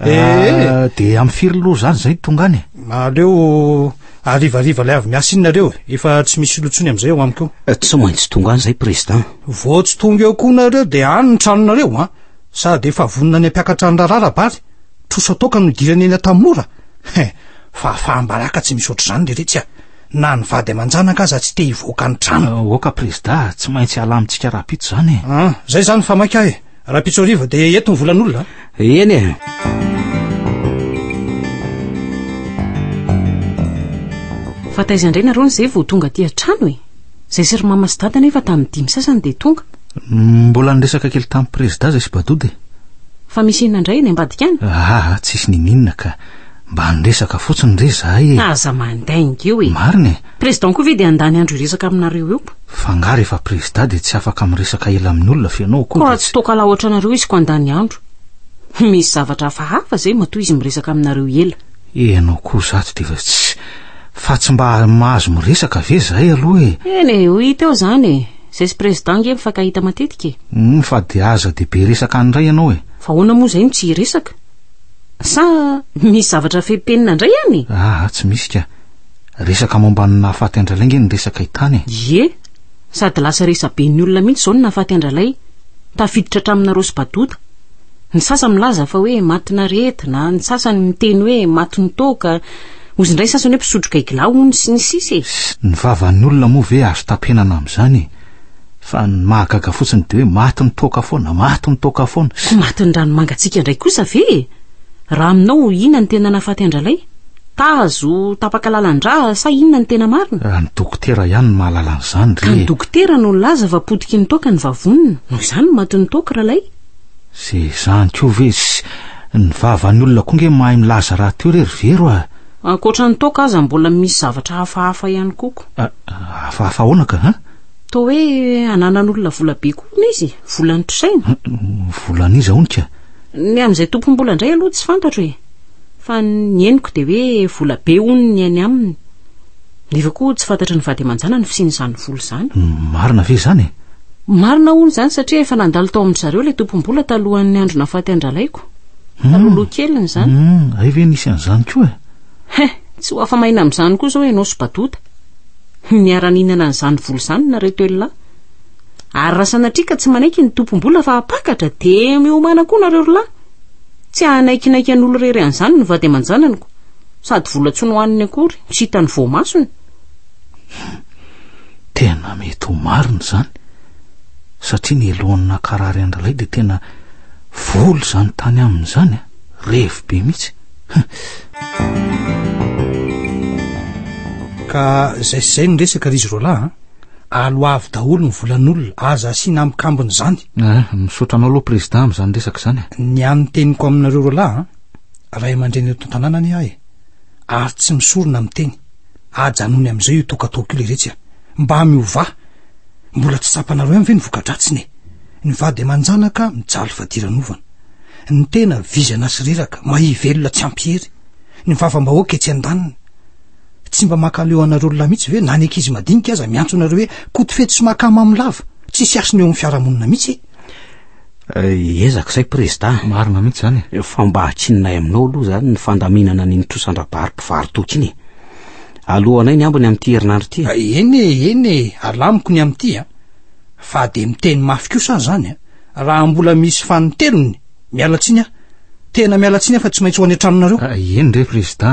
ee de am firy loha zany zay tonga any aleo arivariva lay avy miasa inona reo efa tsy misy lotsony am'izay eo amiko eh, tsy maintsy tonga any zay président vao tsy tonga eo koa nareo de any ny tranonareo a sady efa vonona any ampiakatra ny raharaha rabary trosa toka no dirany eny atamora he eh, fa faham-baraka tsy misy ohatr'izany le retsy a na ny vady aman-janaka aza tsy te hivoaka ny trano ah, oka prezida tsy maintsy hala amintsika rahapitso izany e ah, zay zany fa maika e rahapitso ariva dia eto ny volan'olona eny e fa taiza indray nareo ny zay vao tonga aty an-trano e zay sy ry mama sy dada nefa tamin'ny dimy sasany dia tonga mbola niresaka kely tamin'ny prezida zay sy badode fa misy inona indray any ambadika any ah, ah tsisy nininona ka Mba niresaka fotsiny re zahay e. Aza mandainga eo e. Marina e. Président koa ve dia handany andro hiresaka aminareo eo? F'angaha rehefa prezda dia tsy afaka miresaka ela amin'ny olona fa ianao koa dia tsy. Koa tsy toa kalaho otranareo izy koa handany andro. Misy zavatra hafahafa zay matoa izy miresaka aminareo ela. Ianao koa zato dia efa tsy Fa tsy mba mahazo miresaka ve zahay aloha e? Eny e, ho hita eo zany e. Zay sy président nge mifankahita matetika e. Humm fa dia aza dia be resaka any ndray ianao e. Fa ahoana moa zay no tsy hiresaka? Sa misy zavatra feno penina indray any e? Aa, tsy misy ka. Resaka momba ny nahafaty an-dRalay ange ny resaka i Tany e. Ie, sady lasa resa-ben'ny olona mihitsy izao ny nahafaty an-dRalay. Tafiditra hatraminareo sy Badota. Ny sasany milaza fa hoe matin'aretina, ny sasany miteny hoe matin'ny toaka, ozy indray ny sasany hoe mpisotro gaigilahy hono sy ny sisa e. Ny vavan'ny olona moa ve azo tapenana amin'izany e? Fa ny mahagaga fotsiny dia hoe maty ny toaka foana, maty ny toaka foana. Tsy maty ny ranomangatsika indray kosa ve e? Raha aminao inona no tena nahafaty an-dralay? Tazo tapaka lalan-dra sa inona no tena marina? Raha ny dokotera ihany no mahalala an'izany re e. Ka ny dokotera no nilaza fa potiky ny toaka ny vavoniny, noho izany no matin'ny toaka ralay. Ze izany koa ve tsy ny vavan'ny olona koa nge mahay milaza rahateo re ry Vero a! Ankoatra ny toaka aza mbola misy zavatra hafahafa ihany koa ko. Hafahafa ahoana ka an? Toa hoe ananan'olona vola be koa hono izy, volan'ny mpisaina. Volan'iza hono ka? Ny amin'izay tompom-bola indray aloha tsy fantatro e. Fa ny henoko dia hoe vola be hono ny any aminy. Nefa koa tsy fantatry ny vady aman-janany ny fisian'izany vola izany. Marina ve izany e? Marina hono izany satria efa nandalo tao amin-dry zareo ilay tompom-bola talohan'ny andro nahafaty an-dralahiko. Hmm. Talohaloha keliny izany. Hmm, hay ve nisy an'izany koa e? He, tsy ho afa-maina amin'izany koa izao ianao sy Badota. Miara-nihinana an'izany vola izany nareo telo lahy. Ary raha sanatria ka tsy manaiky ny tompom-bola fa hampakatra dia miomana koa nareo rolahy. Tsy hanaikinaiky an'olo-rery an'izany ny vady aman-jananiko. Sady vola tsy nohaniny akory, tsy hitan'ny voamasony. Tena mety ho marina izany, satria ny lohan'ny nakarary an-dRalahy dia tena vola izany tany aminy izany, revy be mihitsy. ka zay sy zay ny resaka ry izy roalahy a ah. alo avy daholo ny volan'olona aza asiana amikambony izany ah, misaotra anao aloha président amin'izany resaka izany a ah. ny an'ny teniko aminareo roalahy a ray aman-dreny eto an-tanàna anie ahy ary tsy misorona amin'ny teny ajanony amin'izay io tokatoko io leiretsy a mba miovà mbola tsy tsapanareo ihany ve ny vokadratsiny e ny vady aman-janaka mijaly fadiranovana ny tena vizana sy reraka mahivelona tsy ampiery ny vavambahoaka etsy an-daniny tsy mba makaleo anareo lona mihitsy ve na ny ankizy madinika aza miantso anareo hoe koto fety sy makamamy lava tsy sy asiny eo amin'ny fiarahamonina mihitsy eh, ezaka izay prezida marina mihitsy izany eh, fa mba hatsinonay aminao aloha izany ny fandaminana ny nitrosan-drabary mpivarotoky iny alohanay ny ambiny amin'ity herinandro ity eh, eny eny alamiko ny amin'ity a fa dia miteny mafy kosa aho izany a Raha mbola misy fanintelony, miala tsiny aho. Tena miala tsiny aho fa tsy maintsy ho any an-tranonareo. Ah, eny re, Prezidà.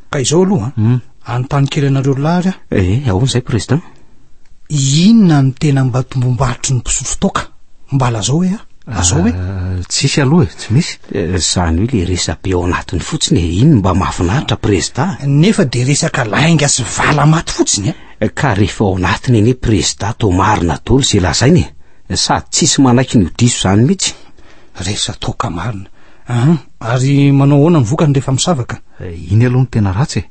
Ka izao aloha an, hmm. anontany kely anareo roa lahy ary aho. Eh, eh ahoana izay, Prezidà? Inona no tena mba tombombaritry ny mpisotro toaka? Mba lazao hoe a? Lazao hoe? Ah, tsisy aloha e, tsy misy. Eh, izany hoe le resabe ao anatiny fotsiny e, iny mba mahafinaritra, Prezidà. Nefa dia resaka lainga sy vala maty fotsiny e. Eh, ka rehefa ao anatiny anie, Prezidà, toa marina daholo izay lazaina e. Sady tsisy manaiky ny ho diso izany mihitsy. Resa toaka marina. Ah, ary manao ahoana ny vokany rehefa misavaka? Eh, iny aloha no tena ratsy e.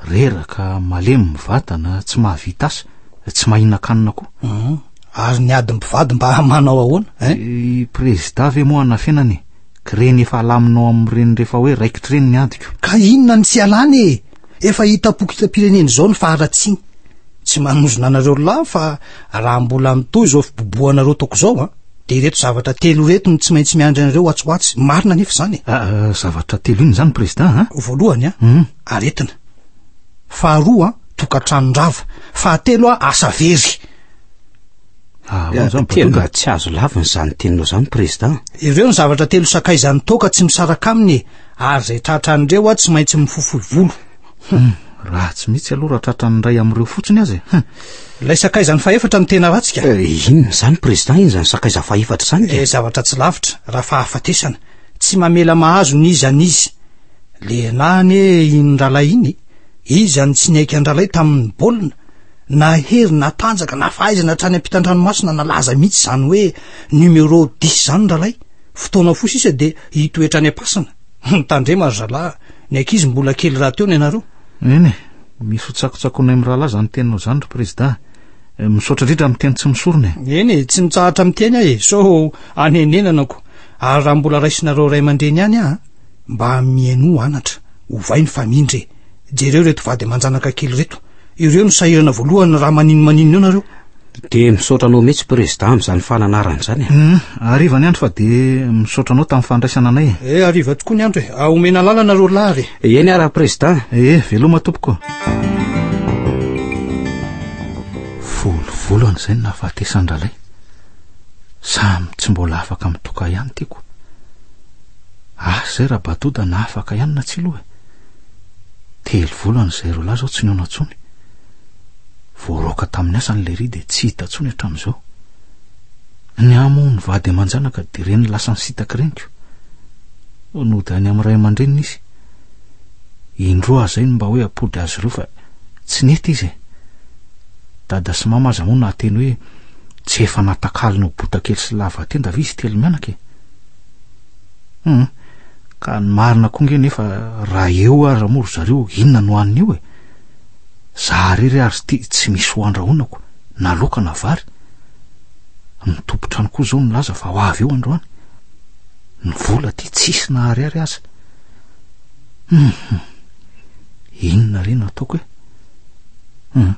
Reraka, malemy ny vatana, tsy mahavita asa, tsy mahinan-kanina koa. Mhm. Ary ny ady mpivady mba manao ahoana? Eh? eh I prezida ve moa anafenana e? Kireny efa alaminao amin'ireny rehefa hoe raikitra ireny ny adiko. Ka inona ny tsy alany e? Efa hitam-pokotram-pirenena izao ny faharatsiany. Tsy manozona anareo lahy fa raha mbola mitohy izao fibobohanareo toko izao a, dia ireto zavatra telo ireto no tsy maintsy miandry anareo ho atsy ho atsy. Marina anefa izany e. Ah, ah, zavatra telo inona izany Prezidà a? Voalohany a, hmm. aretina. Faharoa a, tokantranon-drava. Fahatelo a, asa very. Ah, eh, tena tsy azo laviny izany teninao izany président ireo ny zavatra telo sakaizan'ny toaka tsy misaraka aminy e ary izay tratra an'ireo a tsy maintsy mifofoy volo hmm, raha tsy mihitsy aloha raha tratra ny ray amin'ireo fotsiny azy e. hmm. ilay sakaizany fahefatra no tena ratsika eh, inona izany président iny izany sakaiza fahefatra izany e eh, zavatra tsy lavitra raha fahafatesana tsy mamela mahazo ny izy any izy lehilahy anie iny ralay iny izy any tsy niaika andralay tamin'ny baolina na hery na tanjaka na fahaizana hatrany am-pitandranomasina na laza mihitsy izany hoe numéro dix izany ralay fotoana fo sisa dia hitoetra any am-pasana mitandrema ry zalaha ny ankizy mbola kely raha teo ny anareo eny misy ho tsakotsakonay mirahalahy izany teninao izany ry prezida eh, misaotra indrindra amin'ny teny tsy misorona e. eny e tsy mitsahatra miteny ahy e sao anenenanako ary raha mbola raisinareo ray aman-dreny ihany aho Mba mihainoa anatra, ovay ny famindra e. Jereo reto vady aman-janaka kely reto. Ireo no sahirana voalohany raha manino manino eo nareo. Dia misaotra anao mihitsy Président amin'izany fananarana izany e. Hum, hariva ny andro fa dia misaotra anao tamin'ny fandraisana anay e. Eh, hariva tokoa ny andro e. Ah, omena lala nareo lahy re. Eny ara Président. Eh, veloma tompoko. Folo volana izay no nahafatesan-dRalay. Samy tsy mbola afaka mitoka ihany tiako. Asa izay raha batoda na afaka ihany na tsy loha e. Telo volana izay ireo lahy izao tsy nihaona intsony. Voaroaka tamin'ny asany ilay ry dia tsy hita intsony hatramin'izao. Ny amo ny vady aman-janaka dia ireny lasan'ny sitaky reniko. Nody any amin'ny ray aman-dreniny izy. Indroa zay no mba hoe apody azy ireo fa tsy nety izy e. Dada sy mama aza moa nahateny hoe tsy efa natakalony ho botakely sy lava tenda ve izy telo mianaka e. Hum, ka ny marina koa nge nefa raha eo aza moa ry zareo inona no hanina eo e. Za rery ary ity tsy misy ho andrahonako na loka na vary. Ny tompontrano koa zao nilaza fa ho avy eo androany. Ny vola ty tsisy naharihary aza. Hum, inona re no ataoko e? Hum,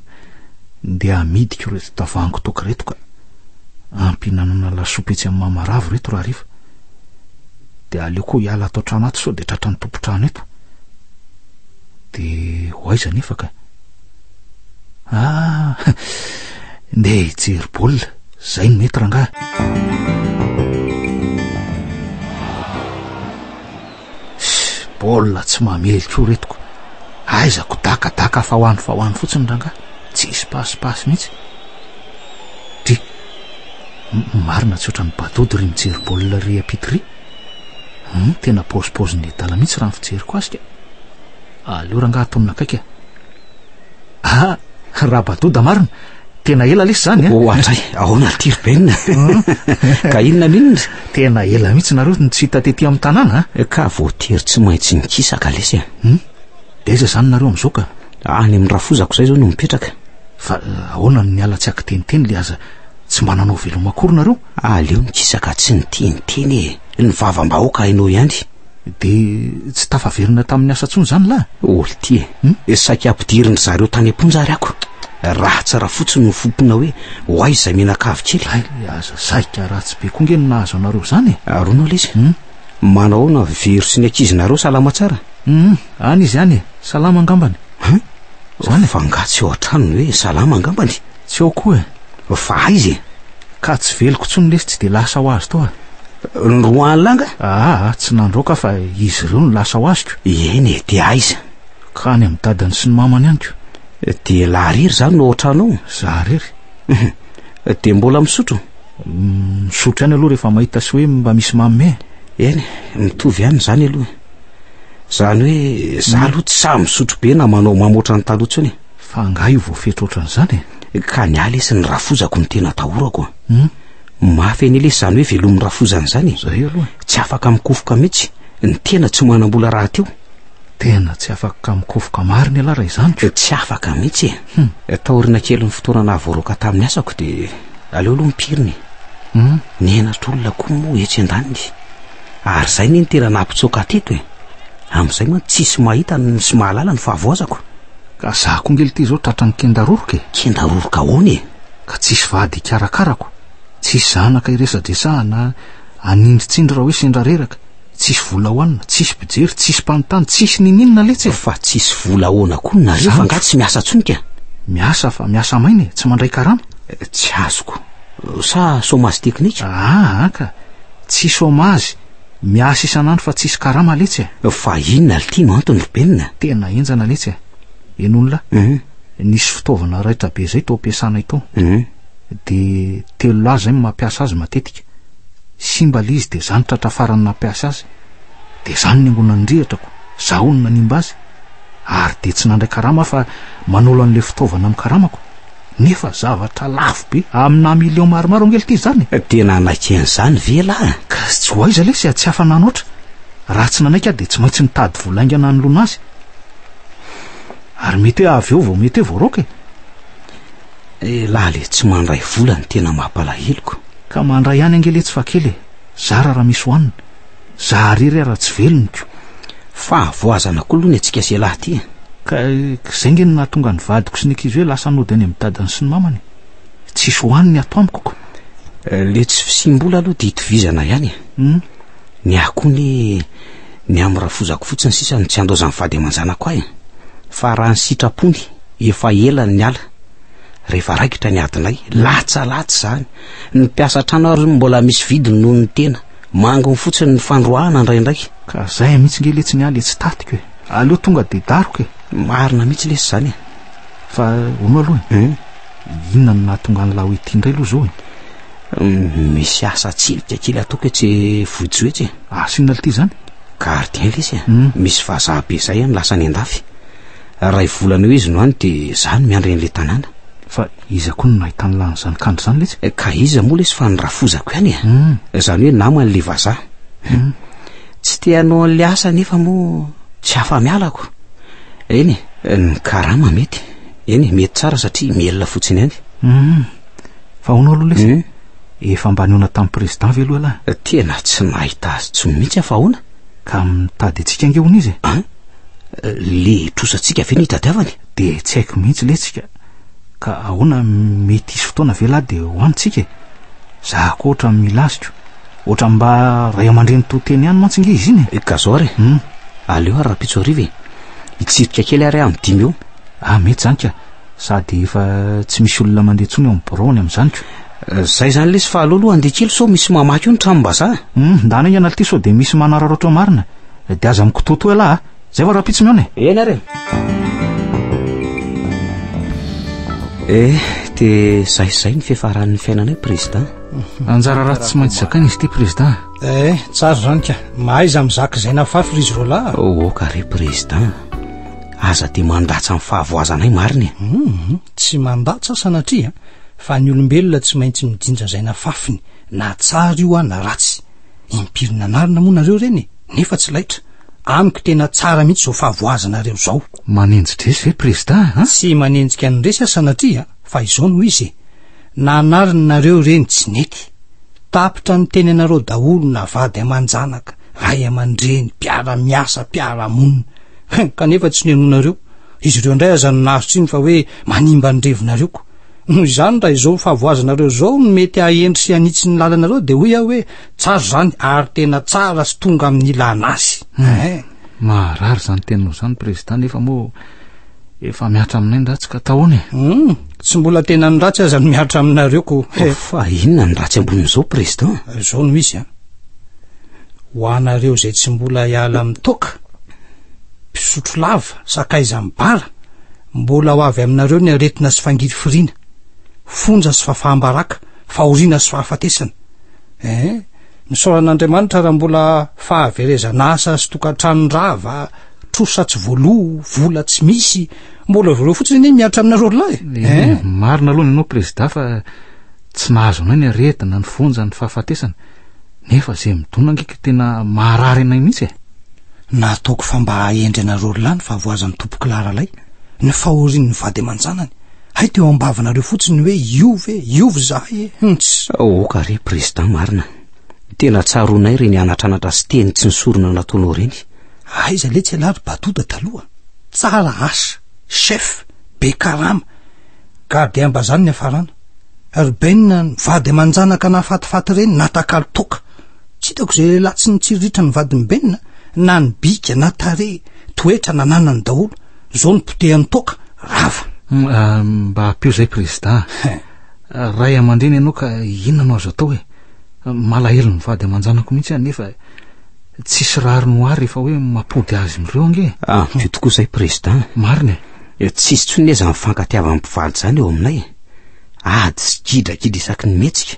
ndeha hamidiko ireto tavoahangy toaka ireto ka. Ampihinanana lasopy etsy amin'ny mamaravo ireto rahariva. Dia aleo koa hiala ato an-trano ato sao dia tratra ny tompon-trano eto. Dia ho aiza nefa ka? Ah, ndeha hijery baolina, izay no mety rangahy. Baolina tsy mamely koa retiko. Aiza ko daka daka fa ho any fa ho any fotsiny rangah. Tsisy pasy pasy mihitsy. Dry. Marina tsy ohatran'ny badody ry mijery baolina ry apity ry. Hum, tena pause pause ny adala mihitsy raha ny fijeriko azy ka. Aleo rangah atonina akaiky a. Ah, raha badoda marina. Tena ela lesy zany a. Eh? Ohatray, ahoana ry Tiry Ben? Ka inona minona? Tena ela mihitsy nareo no tsy hita tety amin'ny tanàna a. Eh? Ka voatery tsy maintsy nikisaka lesy a. Hmm? De aiza zany nareo amin'izao ka? Any amin'ny rafozako izay zao no mipetraka. Fa eh, ahoana no niala tsy akiteniteny le aza tsy mba nanao veloma akory nareo? Aleo nikisaka tsy niteniteny e. Ny vavam-bahoaka hainao ihany. De tsy tafaverina tamin'ny asa tsony zany lahy? Oltie, hmm? e saika ampidirin-dry zareo tany am-ponja ary ako. Raha tsy raha fotsiny no fompina hoe ho aiza izay menakavy kely. Ay, aza saika ratsy be koa nge no nahazo anareo zany e. Arona ah, lesy, hmm? manao aona vero sy ny ankizinareo salama tsara? Hmm, any izy any e, salama angambany. Huh? Zany fa ngatsy eo an-tranony hoe salama angambany. Tsy ao koa e. Fa aiza e? Ka tsy veloko intsony lesy tsy dia lasa ho azy tao a. Ny roa alina nga? Aa, tsy nandro aho ka fa izy ireo no lasa ho aziko. Eny e, dia aiza? Ka any amin'ny dadany sy ny mamany any ko. Dia laha rery za no ao an-trano ao? Za rery. Dia mbola misotro? Misotro ihany aloha rehefa mahita sy hoe mba misy manome. Eny, mitovy ihany izany aloha. Izany hoe za aloha tsy sahy misotro be na manao mamo ohatran'ny taloha intsony e. Fa angaha io voafetra ohatran'izany e? Ka ny ahy lesy ny rafozako no tena atahorako a. Hmm? Mafy anie lesy izany hoe velomin'ny rafozana izany e. Zay aloha. Tsy afaka mikofoka mihitsy. Ny tena tsy manam-bola rahateo. Tena tsy afaka mikofoka marina ialahy raha izany ko. Tsy afaka mihitsy e. Hmm. Eh, taoriana kelin'ny fotoana nahavoaroaka tamin'ny asako dia aleo aloha ny pirina e. Hmm? Ny henatra olona koa moa etsy an-daniny. Ary zay ne ny tena nampitsoaka teto e. Amzay mantsy tsisy mahita sy mahalala ny fahavoazako. Ka za ko ngely ty zao tratran'ny kenda roroka e. Kenda roroka ahoana e? Ka tsisy vady hikarakarako, tsisy zanaka hiresadresahana, hanindritsindry raha hoe sendra reraka, tsisy vola hoanina, tsisy mpijery, tsisy mpanontany, tsisy ninininona letsy e. Fa tsisy vola ahoana koa nareo fa nga tsy miasa tsony ka? Miasa fa miasa maina e, tsy mandray karama. Tsy azoko. Sa chômage technique? Aa ka. Tsy chômage, miasa isan'andro fa tsisy karama letsy e! Fa inona lty no antony ry Benina? Tena enjana letsy e! Eny olona, nisy fitaovana raitra be zay tao ampiasana itao, de telo lahy zay no mampiasa azy matetika, simba lay izy de za no tratra farany nampiasa azy, de za no niangona ny rihatra ko zaho no nanimba azy, ary de tsy nandray karama aho fa manolo an'le fitaovana amin'ny karamako. nefa zavatra lafo be amina million maromaro angely ty zany e. Tena hanaiky an'izany ve lah? Ka tsy ho aiza lesy tsy hafa nanoatra, raha tsy nanaiky aho dia tsy maintsy nitady vola haingana hanoloana azy. Ary mety hoe avy eo vao mety hoe voaraoka e. Elah le tsy mandray vola no tena mampalaheloko. Ka mandray ihany ange letsy fa kely e, zara raha misy hohanina. Za re re raha tsy veloniko. Fa avoazana koa aloha ny antsika selah ty e. Ka zay nge no nahatonga ny vadiko sy ny ankizy hoe lasa nody any amin'ny dadany sy ny mamany. Tsisy ho any ny ato amiko ko. Le tsy fisiam-bola aloha dia itovizana ihany e. Humm. Ny ahy koa anie ny amin'ny rafozako fotsiny sisa no tsy andaozan'ny vady aman-janako ahy. Fa raha ny sitrapony efa ela no niala. Rehefa raikitra ny adinay, latsa latsa izany. Ny mpiasa an-trano ary mbola misy vidiny noho ny tena. Mangony fotsiny ny fandroahana ndraindraiky. Ka zay mihitsy nge letsy ny ahy le tsy tatiko e. Aleo tonga de daroka e. Marina mihitsy lesy zany e. Fa ono aloha e. Hmm? Inona no nahatonga an'i Laho ity indray aloha zao e? Hmm, misy asa tsilika kely ataoko etsy e, vohijo etsy e. Asinona ah, ity zany? Gardien lesy e. Hmm. Misy vazaha be zay e, lasa any andafy. Ray volana eo izy no any de za no miandry an'le tanàna. Fa iza koa no nahitany lany zany kandry zany letsy? Eh, ka iza moa lesy fa ny rafozako ihany eh. Mm. Zany hoe namany le vazaha. Mm. Tsy te hanao an'le asa nefa moa tsy afa-miala ko. Eny eh. Ny karama mety. Eny eh, mety tsara satria miela fotsiny ihany. Mm. Fa hono aloha lesy. Mm. Efa mba niona tamin'ny président ve aloha lahy? Eh, tena tsy nahita azy tsy mihitsy aho fa hono. Ka mitady antsika ange hono izy e. Le trosantsika ve no hitadiavany? Dia tsy haiko mihitsy letsika. Ka ahoana mety hisy fotoana ve lahy dia ho antsika e? Za koa ohatra milaziko. Ohatra mba ray aman-dreny to teny ihany mantsy nge izy iny e. Eh, ka zao ary. Hmm. Aleo ary rapitso hariva e. Hitsirika kely ary amin'ny dimy eo. Ah, mety zany ka. Sady efa tsy misy olona mandeha intsony ao amin'ny birao any amin'izany ko. Izay izany lesy fa aleo aloha handeha kely sao misy mamaky eo ny tranom-bazaha. Humm, ndana enga analty sao dia misy manararaotra marina. Dia aza mikotoatoa elah a. Izay va rahampitso mihaona e. Eny ary e. Eh, dia izay izay ny fiafaran'ny fiainanay Président. Anjara ratsy tsy maintsy zakaina izy ity Président. Eh, tsara izany ka. Mahaiza mizaka izay nafafy ry izy roalahy a. Oka re Président. aza dia mandatsa ny fahavoazanay marina e mhm, tsy mandatsa sanatria fa ny olombelona tsy maintsy mijinja zay na fafiny na tsara io a na ratsy impirina anarina moa nareo ireny e nefa tsy laitra amiko tena tsara mihitsy zao fahavoazanareo zao manenjidresy ve prezida a tsy manenjika ny resy a sanatria fa izao no izy e na anariny nareo ireny tsy nety tapitra ny teny anareo daholo na vady aman-janaka ray aman-dreny mpiara-miasa mpiara-monina Hein, kanefa tsy nihenoanareo. Izy ireo indray aza no nahazo tsiny fa hoe manimba ny revinareo koa. Noho izany, raha izao fahavoazanareo izao no mety hahendry sy hanitsy ny lalanareo dia hoy aho hoe tsara izany ary tena tsara sy tonga amin'ny ilana azy. Hein. Maharary izany teninao izany, Prezidà, nefa moa efa mihatra aminay ny ratsy ka tahoana e? Hum, tsy mbola tena ny ratsy aza no mihatra aminareo ko. Fa inona ny ratsy ambonin'izao, Prezidà? Izao no izy an. ho anareo izay tsy mbola hiala amin'ny toaka, mpisotro lava, sakaiza mibara, mbola ho avy aminareo ny aretina sy fangirifiriana, fonja sy fafaham-baraka, fahoriana sy fahafatesana. Eh, misaora an'Andriamanitra raha mbola fahaverezana asa sy tokantrano rava, trosa tsy voaloa, vola tsy misy, mbola avy ireo fotsiny anie miatra aminareo lahy. Eh, eh, marina aloha ny anao prezida fa tsy nahazo anao ny aretina, ny fonja, ny fahafatesana. Nefa izay midona ngika tena maharary anay mihitsy e! Na ataoko fa mba hahendry anareo r'lah ny fahavoazan'ny tompoko lahy r'lay, ny fahorian'ny vady aman-janany, hay teo am-bavanareo fotsiny ny hoe iov e, iov zahay e, hunts! Aoka re Président marina, tena tsaroanay ireny anatranatra sy teny tsy nisorona nataonao ireny. Aiza letsy ialahy ry Batoda taloha, tsara asa, chef, be karama, Gardiens-bazany niafarana. Urbain, vady aman-janaka nahafatifaty ireny, natakalo toaka. Tsy hitako izay lehilahy tsy nitsiriritra ny vadin'i Ben a! Na ny bika, na tarehy, toetra, nananany daholo. Izao no potehan'ny toaka, rava. Hum, ah, mba ampio izay prezidà. Ray aman-dreny ianao ka inona no azo atao e? Malahelo ny vady aman-janako mihitsy aho nefa tsisy rariny ho ahy rehefa hoe mampody azy mireo ange. Ampio tokoa izay prezidà. Marina e. Dia tsy hisy intsony anie izany fifankatiavan'ny mpivaly izany eo aminay e. Ady sy gidragidra isaky ny mihetsika.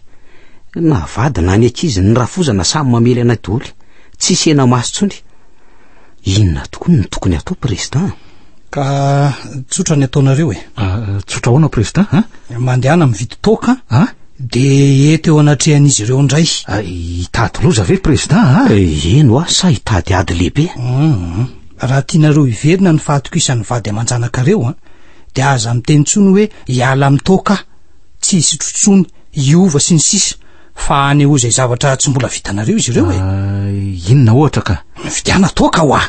Na vady na ny ankizy, ny rafozana samy mamely anay daholo. Tsy hisy hena maso intsony. Inona tokoa no tokony hatao, Président? Ka tsotra ny ataonareo e. Ah, tsotra ahoana, Président? Ah? Mandehana mividy toaka, ah? dia eto eo anatrehan'izy ireo indray. Ah, hitady loza ve, Président? Ah? Eh, eny hoa, sa hitady ady lehibe? Mm. Raha tianareo hiverina ny fahatokisan'ny vady aman-janakareo an, dia aza miteny intsony hoe hiala amin'ny toaka aho, tsy hisotro intsony, hiova sy ny sisa Fa hanehoa izay zavatra tsy mbola vitanareo izy ireo e. Ah, inona ohatra ka? Mividiana toaka hoa.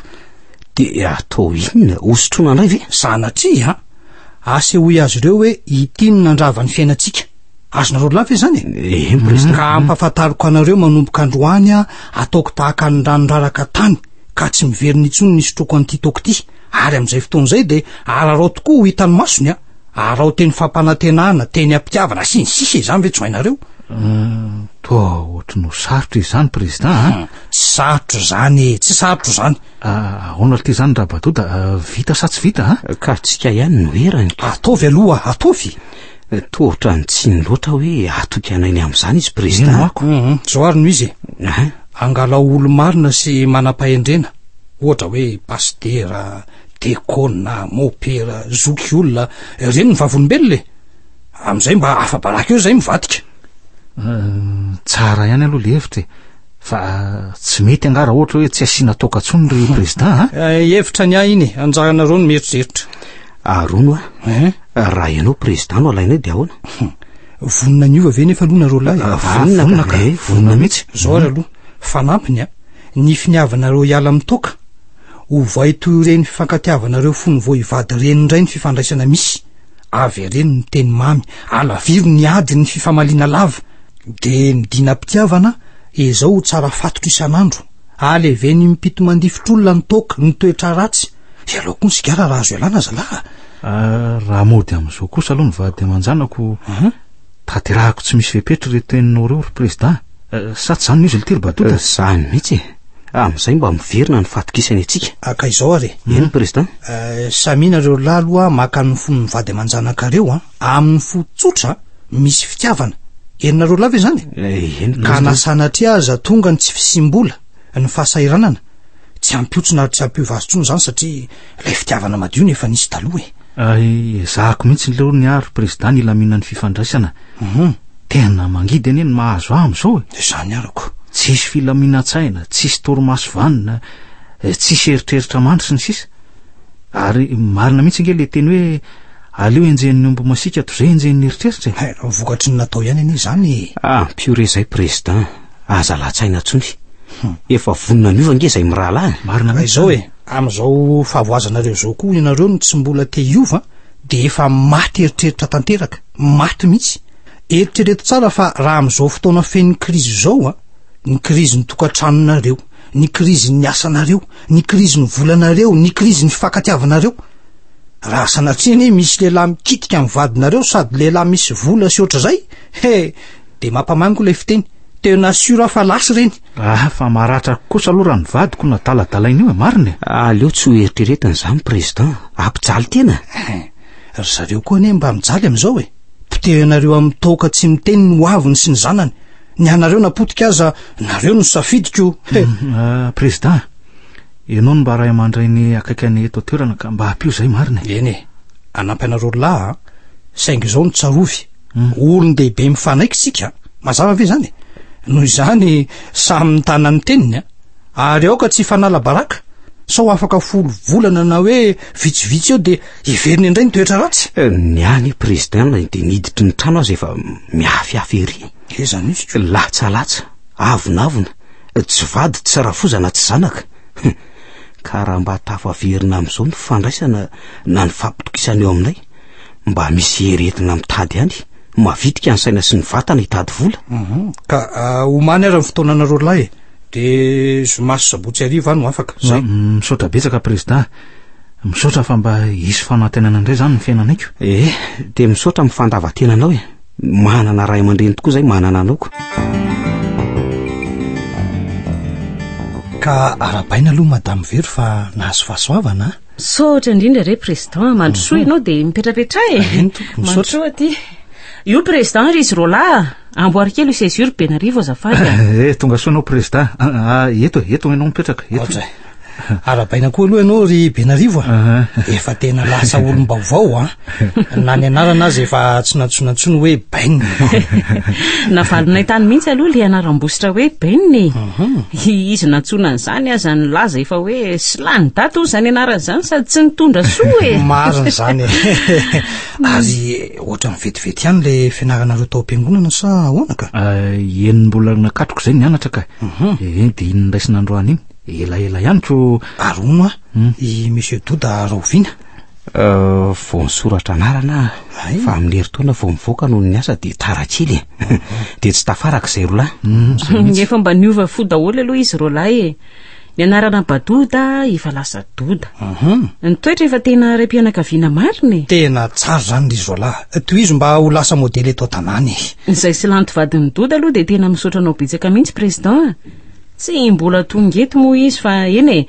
Dia atao inona? Hosotroina indray ve? Sanatria an! Asehoy azy ireo hoe ity no nandrava ny fiainantsika. Azonareo lava ve izany e? Eh, miresaka. Ka ampahafantariko anareo manomboka androany aho hataoko tahaka ny rano raraka tany. ka tsy miverina intsony ny sotroako an'ity toaka ity ary amin'izay fotoana izay dia ararao tokoa ho hitan'ny masony a arao teny fampanantenana teny ampitiavana sy ny sisa izany ve tsy ho hainareo hmm, toa ohatry no sarotra izany président a hmm, tsy sarotra izany e tsy sarotra izany ah, ahoana ity izany raha badoda ah, vita sa tsy vita a ah? ka tsika ihany no erany ataovy aloha ataovy Tohotra ny tsiny loatra hoe hatoky anay ny amin'izany izy prezida. Ino ako? Mhm. Zao ary no izy e. Angalao olo-marina sy manam-pahendrena, ohatra hoe pasitera, dekona, mopera, zoky olona, ireny ny vavolombelona e. Amin'izay mba afa-baraka eo izay mivadika. Eh, tsara ihany aloha le hevitra e. Fa eh, tsy mety angaha raha ohatra hoe tsy asiana toaka intsony ry prezida a? Eh, hevitra ny ahy iny e. Anjaranareo ny mieritreritra. Aharono a. Eh? Raha ianao président no alainay dia ahoana? Vonona niova ve nefa aloha nareo lahy? Ah, vonona ah, vonona ka. Eh, vonona mihitsy. Zao ary aloha, fanampiny a. Ny finiavanareo hiala amin'ny toaka. Ovay toy ireny fifankatiavanareo fony vao hivady ireny indray ny fifandraisana misy. Avereno ny teny mamy, alaviro ny ady ny fifamaliana lava. Dia midinam-pitiavana izao ho tsara fatotro isan'andro. Aleveny mipito mandifotr'olona ny toaka, ny toetra ratsy. Ialao koa ny sigara raha azo ialana zalah a! Ah, raha mody amin'izao kosa aloha ny vady aman-janako, Aha. tanterahako tsy misy fepetra ireo teninao ireo ry Prezidà. Eh, Sa tsy izany no izy ilay Tiry Batota? Eh, Izany mihitsy e! Amin'izay mba miverina ny fatokisany antsika. Ah, ka izao ary e! Eny, Prezidà. Eh, Samia nareo roa lahy aloha maka ny fon'ny vady aman-janakareo a! Amin'ny fo tsotra misy fitiavana. Henonareo lahy ve izany e? Eh, Eny, Ka na Prezidà. sanatria aza tonga ny tsy fisiam-bola, ny fahasahiranana, Tsy hampihotsona ary tsy hampiova azy intsony izany satria ilay fitiavana madio no efa nisy taloha e. Ay, ezahako mihitsy ileo ny ahy ry Prezidà ny hilaminan'ny fifandraisana. Mhm. Tena mangidy anie ny mahazo ahy amin'izao e. Dia izany arako. Tsisy filaminan-tsaina, tsisy torimaso vanona, eh, tsisy eritreritra mandry sy ny sisa. Ary marina mihitsy ange ilay teny hoe aleo henjehin'ny omby masiaka toy izay henjehin'ny eritreritra e. Eh, vokatry ny natao ihany anie izany e. Ampio re izay Prezidà. aza lahatsaina tsony. Hmm. Efa vonona miova ange zay mirahalahy. Marina mihitsy zao e. Amin'izao fahavoazanareo zao koa ianareo no tsy mbola te hiova de efa maty eritreritra tanteraka. Maty mihitsy. Eritrereto tsara fa raha amin'izao fotoana fen'ny krizy zao a, ny krizin'ny tokantranonareo, ny krizin'ny asanareo, ny krizin'ny volanareo, ny krizin'ny fankatiavanareo. Raha sanatria anie misy lehilahy mikitika ny vadinareo sady lehilahy misy vola sy ohatr'izay, he, De mampamango ilay fiteny. Tena sûr aho fa lasy ireny. Ah, fa maratra kosa aloha raha ny vadiko no adaladalain'io e, marina e. Aleo tsy ho eritreretiny izany, Président. Hampijaly tena. Eh, ry zareo koa anie mba mijaly amin'izao e. Potehinareo amin'ny toaka tsy miteny ny hoaviny sy ny zanany. Ny anareo na potika aza, nareo no safidiko. He. Mm, ah, Président, ianao no mba ray aman-dreny akaiky anay eto an-toerana ka mba hampio izay, marina e. Eny e, hanampy anareo lahy a. Saingy izao no tsarovy. Olon-dehibe mifanaiky isika, mazava ve izany? Noho izany, samy mitana ny teniny a! Ary aoka tsy hifanala baraka, sao afaka folo volana na hoe vitsivitsy eo dia heveriny indray ny toetra ratsy. Eh, ny any président na dia niditry ny trano aza efa mihafihafy ery. Eza mihitsy. Latsalatsa, avonavona, tsy vady, tsy rafoza na tsy zanaka. Ka raha mba tafaverina amin'izao ny fandraisana na ny fampitokisana eo aminay, mba misy herentina mitady any mavitika ny saina sy ny vatana hitady vola mhm. ka ah, homany ara ny fotoana anareo lahy e. de zomasy sabotsy ariva no afaka zay misaotra betsaka prezida misaotra fa mba hisy fanantenana indray zany ny fiainanaiko ee eh, de misaotra min'ny fandavatena anao e manana ray aman-dreny tokoa zay manana anaoko ka arabaina aloha madame vero fa nahazo fahasoavana Misaotra indrindra re président a, mandrosoa mhm. ianao dia mipetrapetraha e. Amin tompoko, misaotra. Mandrosoa aty. Io président ry izy Roland, amboary kely io césure Benarivo azafady. Eh tonga soa ianao président. Ah, ah, eto e, eto ianao mipetraka. Eto. Ohatray. Arabaina koa aloha ianao ry Benarivo a. Ah, ah. Efa tena lasa olom-baovao a. na ny anarana aza efa tsy nantsoina ntsony hoe ben navalonay tany mihitsy aloha le anaram-bositra hoe ben e mhm. izy nantsoina an'izany aza ny laza efa hoe silany dato zany anarana zany sady tsy nitondra soa e marina zany ary ohatra ny vetivety ihany le fianaranareo tao am-piangonana sa ahoana ka ah, eny mbola nakatroko zay nianatra ka mhm. eh, en de iny nraisina androany iny elaela ihany ko arono a hmm. i monsieur doda raoviana Euh, vao nisoratra anarana aho fa amin'ny herintaona vao mivoaka noho ny asa dia tara kely e dia tsy tafaraka izay rolahy mm, efa mba niova fo daholo aloha izy rolahy e ny anarana badoda efa lasa doda mhm. ny toetra efa tena ray mpianakaviana marina e tena tsara izany ry zolahy eh, tohizo mba ho lasa modely eto an-tanàna e izay silanty vadin'ny doda aloha dia tena misaotra anao betsaka mihitsy président Tsy mbola tonga eto moa izy fa eny e,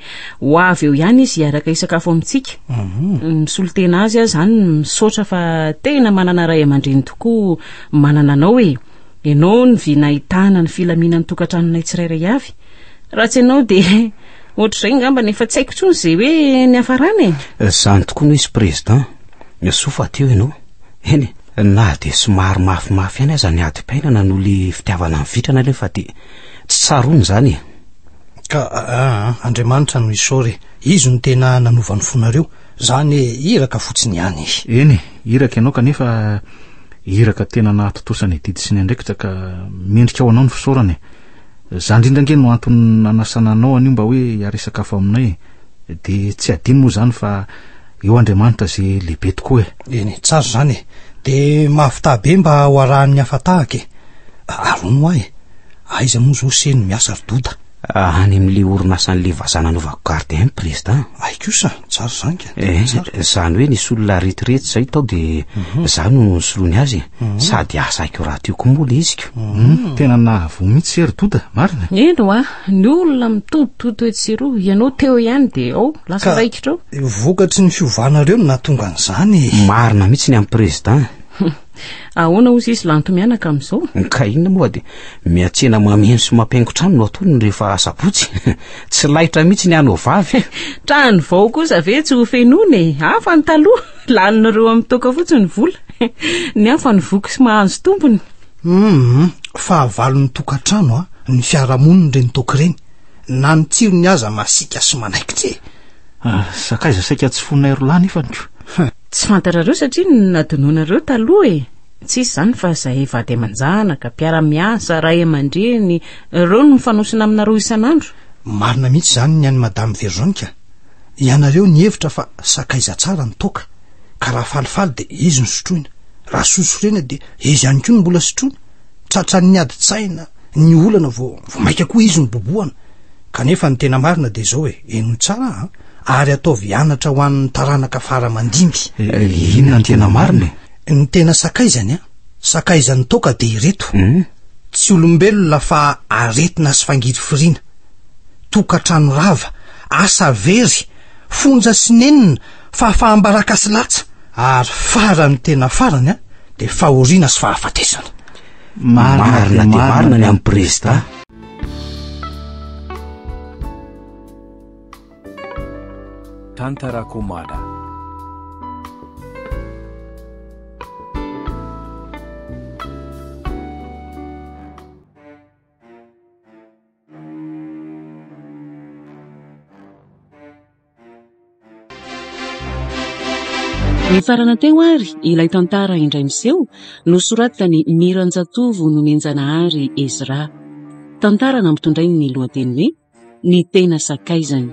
ho avy eo ihany izy hiaraka hisakafo amintsika. Mhm. Misolo tena azy aho izany, misaotra fa tena manana ray aman-dreny tokoa manana anao e. Ianao no vy nahitana ny filaminan'ny tokantranonay tsirairay avy. Raha tsy ianao dia ohatr'izay ngamba efa tsy haiko intsony izay hoe niafarana e. Izany tokoa no izy Président. Soa fa teo ianao. Eny e, na dia somary mafimafy ihany aza ny adim-piainana noho ilay fitiavana mivitrana aloha fa dia Tsy tsaroany izany e! Ka ah, Andriamanitra no isaory e! Izy no tena nanova ny fonareo. Za anie iraka fotsiny ihany e! Eny e, iraka ianao kanefa iraka tena nahatontosa ny adidy sy ny andraikitra ka mendrika ho anao ny fisaorana e! Za indrindra ange no antony nanasana anao anio mba hoe hiary hisakafo aminay e! De tsy adino moa izany fa eo Andriamanitra ze lehibe tokoa e! Eny e, tsara izany e! De mahavità be mba ho arahan'ny hafa tahaka e! Aroa mois e! Aiza moa zao se no miasa ry Doda? Any amin'le orinasan'le vazaha nanaovako garde any président. Ay kosa, tsara izany ka. Eh, izany hoe nisy olona retirety izay tao dia mhm. za no nisoloany azy. Mhm. Sady asa aiko rahateo koa moa le iziko. Mhm. Tena nahavoa mihitsy ry Doda, marina? Eno a, ny olona mitotototo etsy sy eroa, ianao teo ihany dia ao, lasa raikitra ao. Vokatry ny fiovanareo no nahatonga an'izany. Marina mihitsy ny amin'ny président. Ahoana hozy izy lanto mianaka amin'izao? Ka inona moa dia miantsena mameno sy mampihaingo trano no ataony rehefa asabotsy. Tsy laitra mihitsy ny hanao vavy. Trano vao kosa ve tsy ho fenoina e? Hafa ny taloha, lanin'ireo amin'ny toaka fotsiny ny vola. Ny hafa ny voky sy mahanzo tompony. Hum, fahavalon'ny tokantrano a, ah, ny fiarahamoniny ireny toaka ireny. Na ny tsirony aza masiaka sy manaikitra e. Ah, sakaiza saika tsy fonay roa lahy nefa ny ko. Tsy fantatrareo satria nadononareo taloha e! Tsisy izany fa izay vady aman-janaka, mpiara-miasa, ray aman-dreny, ireo no mifanosona aminareo isan'andro. Marina mihitsy izany ny an'i Madame Verzonka. Ianareo nihevitra fa sakaiza tsara ny toaka, ka raha falifaly dia izy no sotroina, raha soa sorena dia izy ihany koa no mbola sotroina, tratran'ny ady-tsaina, ny olana vao vao maika koa izy no bobohana. Kanefa ny tena marina dia izao e, henoy tsara an, ary ataovy anatra ho an'ny taranaka fara mandimby. Inona ny tena marina e? Ny tena sakaizany an, sakaizan'ny toaka dia ireto, tsy olombelona fa aretina sy fangirifiriana, tokantrano rava, asa very, fonja sy nenina, fahafaham-baraka sy latsa, ary faran'ny tena farany an, dia fahoriana sy fahafatesana. Marina dia marina ny an'i Prezidà. Tantarakomana. Nifarana teo ary ilay tantara indray miseho nosoratan'i Miranjatovo Nomenjanahary Ezra. Tantara nampitondrainy ny lohateny hoe Ny tena sakaizany.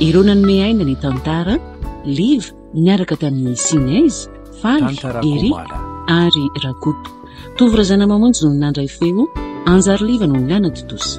Ireo nanome aina ny tantara, Liv niaraka tamin'ny Sinez, Faly, Eric ary Rakoto. Tovo Razanamamonjy no nandray feo, Anjariliva no nanatontosa.